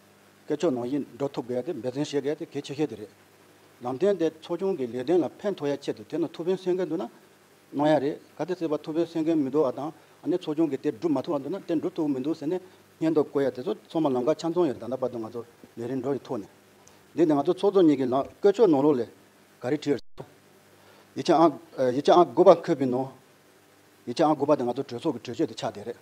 སྐད་ཆོག་ནང་བཞིན་འགྲོ་ཐུབ་དགོས་ཏེ་འབད་བརྩོན་བྱེད་དགོས་ཏེ་གལ་ཆེ་ཤོས་དེ་རེད། ལམ་སྟོན་དེས་ཚོགས་ཆུང་གི་ལས་དོན་ལ་ཕན་ཐོགས་ཡ་ཆེད་དུ་དེ་ནང་ཐུགས་ཕན་གསོས་མཁན་འདུག་ན་གནང་ཡ་རེད་ག་དེ་སྲིད་པ་ཐུགས་ཕན་གསོས་མཁན་མི་འདུག་བ་དང་ཨ་ནེ་ཚོགས་ཆུང་གི་དེ་སྒྲུབ་མ་ཐུབ་བ་འདུག་ན་དེ་འགྲུབ་ཐུབ་མི་འདུག་ཟེར་ནས་སྙད་འདོགས་བཀོད་ཡ་དེ་ཚོ་ཚང་མ་ལམ་ཁ་ཆ་མཚུངས་ཡོད་ད་ལྟ་བར་དུ་ང་ཚོ་ལས་རིམ་འགྲོ་ཡི་ཐོག་ནས་འདི་ནས་ང་ཚོ་ཚོགས་གཙོ་གཉིས་ཀྱི་ལམ་བཀོད་ཆོག་ནང་ལོགས་ལས་ག་རེ་བྲིས་ཡོད་ཡིད་ཆེས་ཨང་དགུ་པ་འཁོད་པའི་ནང་ཡིག་ཆ་ཨང་དགུ་པ་དེ་ང་ཚོ་གྲོས་ཚོགས་ཀྱི་གྲོས་ཆོད་དེ་ཆགས་བསྡད་རེད།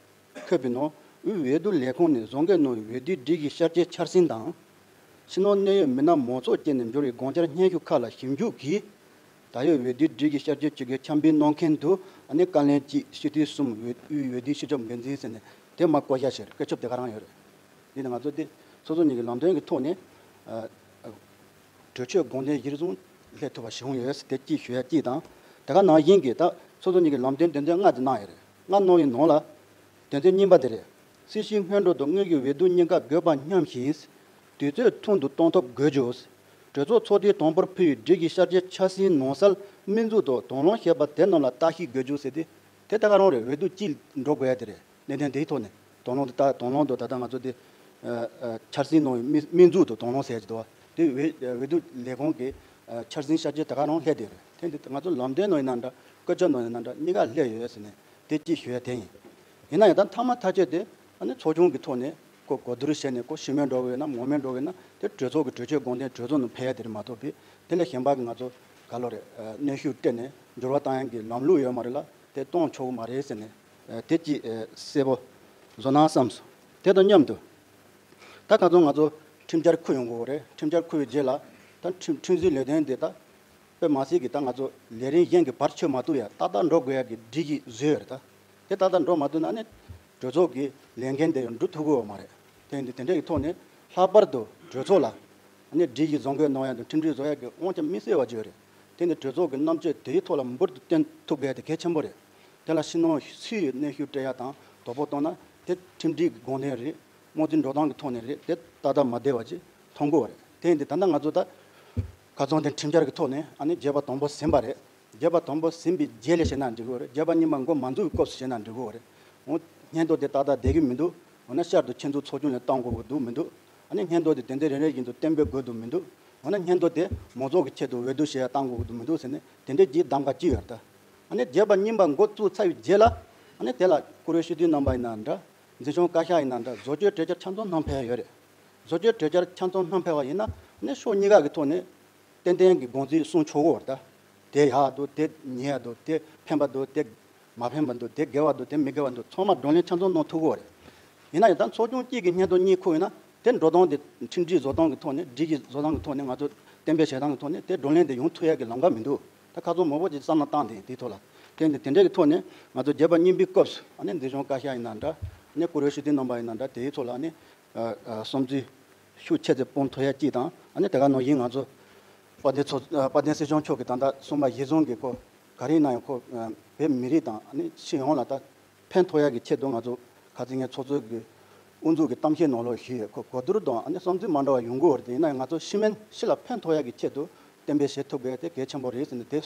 ཁོས་པི་ནོ་ཝི་འོས་བསྡུ་ལས་ཁུངས་ནས་བཟོ་འགེལ་གནང་བའི་འོས་བསྡུའི་སྒྲིག་གཞི་ཤར་རྗེས་འཆར་ཟིན་དང། ཕྱི་ནང་གནད་ཡོད་མི་སྣ་མང་ཚོགས་བསྐྱེལ་ནས་འབྱོར་བའི་དགོངས་འཆར་སྙན་ཞུ་ཁག་ལ་ཞིབ་འཇུག་གིས། ད་ཡོད་འོས་བསྡུའི་སྒྲིག་གཞི་ཤར་རྗེས་ཇི་དགོས་འཆར་འབུལ་གནང་མཁན་དུ་ཨ་ནེ་བཀའ་ལན་གྱིས་སྤྱི་འཐུས་གསུམ་འོས་དབུས་འོས་བསྡུའི་ཕྱི་ཕྱོགས་འགན་འཛིན་ཟེར་ནས་དེ་མ་བསྐོ་བཞག་བྱས་རེད་སྐད་ཆོབ་དེ་ག་རང་ཡོད་རེད། འདི་ནི་ང་ཚོ་སྟེ་སོ་སོ་ཉིད་ཀྱི་ལམ་སྟོན་གྱི་ཐོག་ནས། གྲོས་ཆོད་དགོངས་དོན་གཞིར་བཟུང་སླེབས་ཐུབ་པ་བྱུང་ཡོད་ཟེར་དེ་གཅིག་ཞུ་ཡ་གཅིག་དང། དེ་ག་ནང་བཞིན་གྱི་ད་སོ་སོ་གཉིས་ཀྱི་ལམ་སྟོན་དོན་ཚན་ལྔ་དེ་གནང་ཡོད་རེད། ལྔ་གནང་ཡོད་ནང་ལ། དོན་ཚན་གཉིས་པ་དེ་རེད། སྲིད་ཞིའི་སྔོན་འགྲོ་དང་དངོས་ཀྱི་འོས་བསྡུ་གཉིས་ཀ་དགོས་པ་མཉམ་ཞིང། དུས་ཚོད་ཐུང་དུ་གཏོང་ཐབས་དགོས་རྒྱུ། གྲོས་ཚོགས་ཚོགས་དུས་དང་པོར་ཕུལ་བའི་སྒྲིག་གཞི་ཤར་རྗེས་འཆར་ཟིན་ནང་གསལ་སྨིན་འཛུགས་དང་དོན་ལོངས་བཤད་པ་དེ་རྣམས་ལ་བརྟག་ཞིབ་དགོས་རྒྱུ་ཟེར་དེ། དེ་ད་ག་རང་རེད་འོས་བསྡུ་གཅིག་འགྲོ་དགོས་ཡ་དེ་རེད། གནད་དོན་དེའི་ཐོག་ནས་དོགས་སློང་དུ་ལྟ། དོགས་སློང་དུ་ད་ལྟ་ང་ཚོ་དེ་འཆར་ཟིན་གནང་བའི་སྨིན་སྨིན་འཛུགས་དུ་དོགས་སློང་ཟེར་གྱི་འདུག་བ། དེ་འོས་འོས་བསྡུ་ལས་ཁང་གི་འཆར་ཟིན་ཤར་རྗེས་ད་ག་རང་ལྷད་དེ་རེད། ཐེངས་འདིར་ང་ཚོ་ལམ་སྟོན་གནང་ཡི་ན་འདྲ་བཀོད་ཆ་གནང་ཡི་ན་འདྲ་གཉིས་ཀ་ལྷད་ཡོད་ཟེར་ནས་དེ་སྐྱིད་ཞུ་ཡ་དེ་ཡིན། ཡིན་ན་ཡང་ད་འཐག་མ་ཐག་ཆོད་དེ་ཨ་ནི་ཚོགས་ཆུང་གི་ཐོག་ནས་ཀོ་གོ་བསྡུར་བྱས་ནས་ཀོ་ཞི་མོལ་འགྲོ་གི་ཡོད་ན་མོ་མོལ་འགྲོ་གི་ཡོད་ན་དེ་གྲོས་ཚོགས་ཀྱི་གྲོས་ཆོད་དགོངས་དོན་གྲོས་ཚོགས་ནང་ཕེལ་ཡ་དེ་རེད་མ་ཐོབ་པས་དེ་ལས་གཞན་པ་ང་ཚོ་ག་ལོ་རེད་གནོན་ཤུགས་སྤྲད་ནས་འགྱུར་བ་བཏང་ཡ་གི་ལམ་ལུགས་ཡོད་མ་རེད་ལ་དེ་གཏོང་ཆོག་གི་མ་རེད་ཟེར་ནས་དེ་ཅི། སྲས་པོ། བཟོ་སྣང་བསམས་སོ། དེ་དང་མཉམ་དུ། ད་ག་ཚོད་ང་ཚོ་ཁྲིམས་འཆར་འཁུར་ཡོང་དགོས་པ་རེད་ཁྲིམས་འཆར་འཁུར་བའི་རྗེས་ལ། ད་ཁྲིམས་ཁྲིམས་བཟོའི་ལས་དོན་དེ་ད་སྤེལ་མ་སྲིད་ཀྱི་ད་ང་ཚོ་ལས་རིང་གཞན་གྱི་བར་ཆོད་མ་ཐུབ་ཡ་ཏག་ཏག་འགྲོ་དགོས་ཡ་གི་སྒྲིག་གཞི་བཟོས་ཡོད་རེད་ད། དེ་ཏག་ཏག་འགྲོ་མ་ཐུབ་ན་ནི་གྲོས་ཚོགས་ཀྱི་ལས་འགན་དེ་ཡང་འགྲུབ་ཐུབ་དགོས་བ་མ་རེད། དེ་འདི་དེ་འདྲ་གི་ཐོག་ནས་ལྷག་པར་དུ་གྲོས་ཚོགས་ལ། སྒྲིག་གཞི་བཟོ་འགོད་གནང་ཡ་དང་ཁྲིམས་སྒྲིག་བཟོ་ཡ་གི་དབང་ཆ་མི་གསལ་བ་བརྗོད་རེད། དེ་ནི་གྲོས་ཚོགས་ཀྱི་རྣམ་དཔྱོད་དེའི་ཐོག་ལ་འབུར་དུ་བསྟན་ཐུབ་གལ་ཏེ་གལ་ཆེན་པོ་རེད། དེ་ལ་ཕྱི་ནང་སུས་ཡོད་གནས་ཤུགས་སྤྲད་ཡ་དང་དོ་པོ་གཏོང་ན་དེ་ཁྲིམས་སྒྲིག་གི་དགོངས་དོན་རེད། རྨོངས་ཚིག་འགྲོ་སྟངས་ཀྱི་ཐོག་ནས་རེད་དེ་ཏག་ཏག་མ་བསྡད་པ་ཅིག་མཐོང་དགོས་བ་རེད། དེ་ཡིན་དུས་ད་ལྟ་ང་ཚོ་ད་ག་རྫོང་དེ་ཁྲིམས་འཆར་གྱི་ཐོག་ནས་ཨ་ནི་རྒྱས་པ་དང་པོ་ཟིན་པ་རེད། རྒྱས་པ་དང་པོ་ཟིན་པའི་རྗེས་ལས་བྱེད་ན་འགྲིག་གི་རེད་རྒྱས་པ་གཉིས་པ་མགོ་མ་འཛུགས་ཀྱི་སྐབས་སུ་བྱེད་ན་འགྲིག་གི་རེད། འོ་སྙན་ཐོ་དེ་ཏག་ཏག་བསྡད་ཀྱི་མི་འདུག་འོ་ན་ཤར་དུ་ཁྱེད་ཚོ་ཚོགས་ཆུང་ནས་བཏང་དགོས་པ་འདུག་མི་འདུག། ཨ་ནི་སྙན་ཐོ་དེ་དེ་འདྲའི་རེ་རེ་བཞིན་དུ་གཏན་འབེབས་དགོས་དུ་མི་འདུག་འོ་ན་སྙན་ཐོ་དེ་མོ་ཚོགས་ཀྱི་ཆེད་དུ་འོས་བསྡུ་བྱེད་ཡ་གཏང་དགོས་དུ་མི་འདུག་ཟེར་ནས་དེ་འདྲའི་བགྱིས་གདམ་ག་ཅི་ཡོད་ད། ཨ་ནི་བརྒྱད་པ་རྙིང་པ་འགོ་བཙུགས་ཚར་བའི་རྗེས་ལ། ཨ་ནི་དེ་ལ་བཀུར་འོས་ཤུལ་དུས་རྣམ་པ་ཡིན་ན་འདྲ། འཛིན་སྐྱོང་བཀའ་ཤག་ཡིན་ན་འདྲ་བཟོ་བཅོས་གྲོས་འཆར་ཆ་མཚོན་གནང་འཕེལ་ཡོད་རེད། བཟོ་བཅོས་གྲོས་འཆར་ཆ་མཚོན་གནང་འཕེལ་བ་ཡིན་ན་ཨ་ནི་ཕྱོགས་གཉིས་ཀ་གི་ཐོག་ནས་ཏན་ཏན་གྱི་དགོངས་ཚུལ་གསུངས་ཆོག་གོ་ད། དེ་ཡག་འདུག་དེ་ཉེས་འདུག་དེ་ཕན་པ་འདུག་དེ། མ་ཕན་པ་འདུག་དེ་དགེ་བ་འདུག་དེ་མི་དགེ་བ་འདུག་ཚང་མ་བགྲོ་གླེང་ཆ་མཚོན་གནང་ཐུབ་དགོས་རེད། ཡིན་ན་ཡང་དག་ཚོགས་ཆུང་གཅིག་གི་སྙན་ཐོ་གཉིས་ཁུག་ཡོད་ན་དེ་འགྲོ་སྟངས་དེ་ཁྲིམས་སྒྲིག་བཟོ་སྟངས་ཀྱི་ཐོག་ནས་སྒྲིག་གཞི་བཟོ་སྟངས་ཀྱི་ཐོག་ནས་ང་ཚོས་གཏན་འབེབས་བྱེད་སྟངས་ཀྱི་ཐོག་ནས་དེ་བགྲོ་གླེང་དེ་ཡོང་ཐུབ་ཡ་གི་ལམ་ཀ་མི་འདུག་ད་ཁ་ཚོན་མང་པོ་ཅིག་བསམ་ན་བཏང་དེ་དེའི་ཐོག་ལ་བསྟན་ཏེ་དེ་འདྲའི་གི་ཐོག་ནས་ང་ཚོ་བརྒྱད་པ་རྙིང་པའི་སྐབས་སུ་ཨ་ནི་འདི་གཞུང་བཀའ་ཤག་ཡིན་ན་འདྲ་ཨ་ནི་བཀུར་འོས་ཞུ་སྡིང་གནང་པ་ཡིན་ན་འདྲ་དེའི་ཐོག་ལ་ཨ་ནི་བསམ་ཚུལ་ཤུགས་ཆེ་ཚེ་སྤོང་ཐུབ་ཡ་གཅིག་དང་ཨ་ནི་དེ་ག་ནང་བཞིན་ང་ཚོ་དཔལ་ལྡན་སྲིད་སྐྱོང་མཆོག་གི་ད་ལྟ་གསུངས་པ་གཞི་བཟུང་གི་སྐོར་ག་རེ་གནང་ཡང་ཁོ་བོད་མི་རིགས་དང་སྤྱི་ཡོངས་ལ་ད་ཕན་ཐོགས་ཡ་གི་ཆེད་དུ་ང་ཚོ་ག་ཚིག་ངན་ཚོགས་གཙོས་ཀྱི་དབུ་འཛུགས་ཀྱི་གཏམ་བཤད་ནོར་ལོག་ཞུས་ཡོད་ཁོ་གོ་བསྡུར་དང་བསམ་ཚུལ་མ་འདྲ་བ་ཡོང་གི་འོར་དེ་ཡིན་ན་ཡང་ང་ཚོ་ཤི་མན་ཤི་ལ་ཕན་ཐོགས་ཡ་གི་ཆེད་དུ་བསྟན་པའི་བཞེད་ཐུབ་གལ་དེ་གལ་ཆེན་པོ་རེད་ཟེར་ནས་དེ་ག་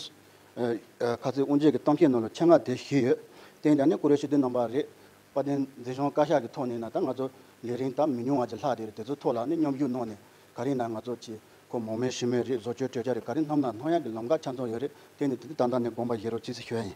ཚིག་དབུ་འབྱེད་ཀྱི་གཏམ་བཤད་ནོར་ལོག་ཆེད་མངགས་དེ་ཞུས་ཡོད་བསྟན་ཀྱང་ནི་ཀུ་རེ་ཤུལ་དུ་གནང་བ་རེད་བ་བསྟན་འཛིན་གཞོན་བཀའ་ཤག་གི་ཐོག་ནས་ན་ད་ང་ཚོ་ལས་རིང་ད་མི་ཉུང་བ་ཅིག་ལྷག་དེ་རེད་དེ་ཚོའི་ཐོག་ལ་ནི་མཉམ་ཞུགས་གནང་ནས་ག་རེ་ན་ང་ཚོ་ཆེས་མཁོ་མོག་མའི་ཞི་མོའི་རིགས་བཟོ་བཅོས་གྲོས་འཆར་རེ་ག་རེ་བསྣམས་ན་ལྷང་ཡག་གི་ལམ་ཁ་ཆ་མཚོན་ཡོད་རེད་དེ་ནི་དེ་འདི་ད་ལྟ་ནས་དགོངས་པ་བཞེས་རོགས་ཅི་སེ་ཞུ་ཡ་ཡིན།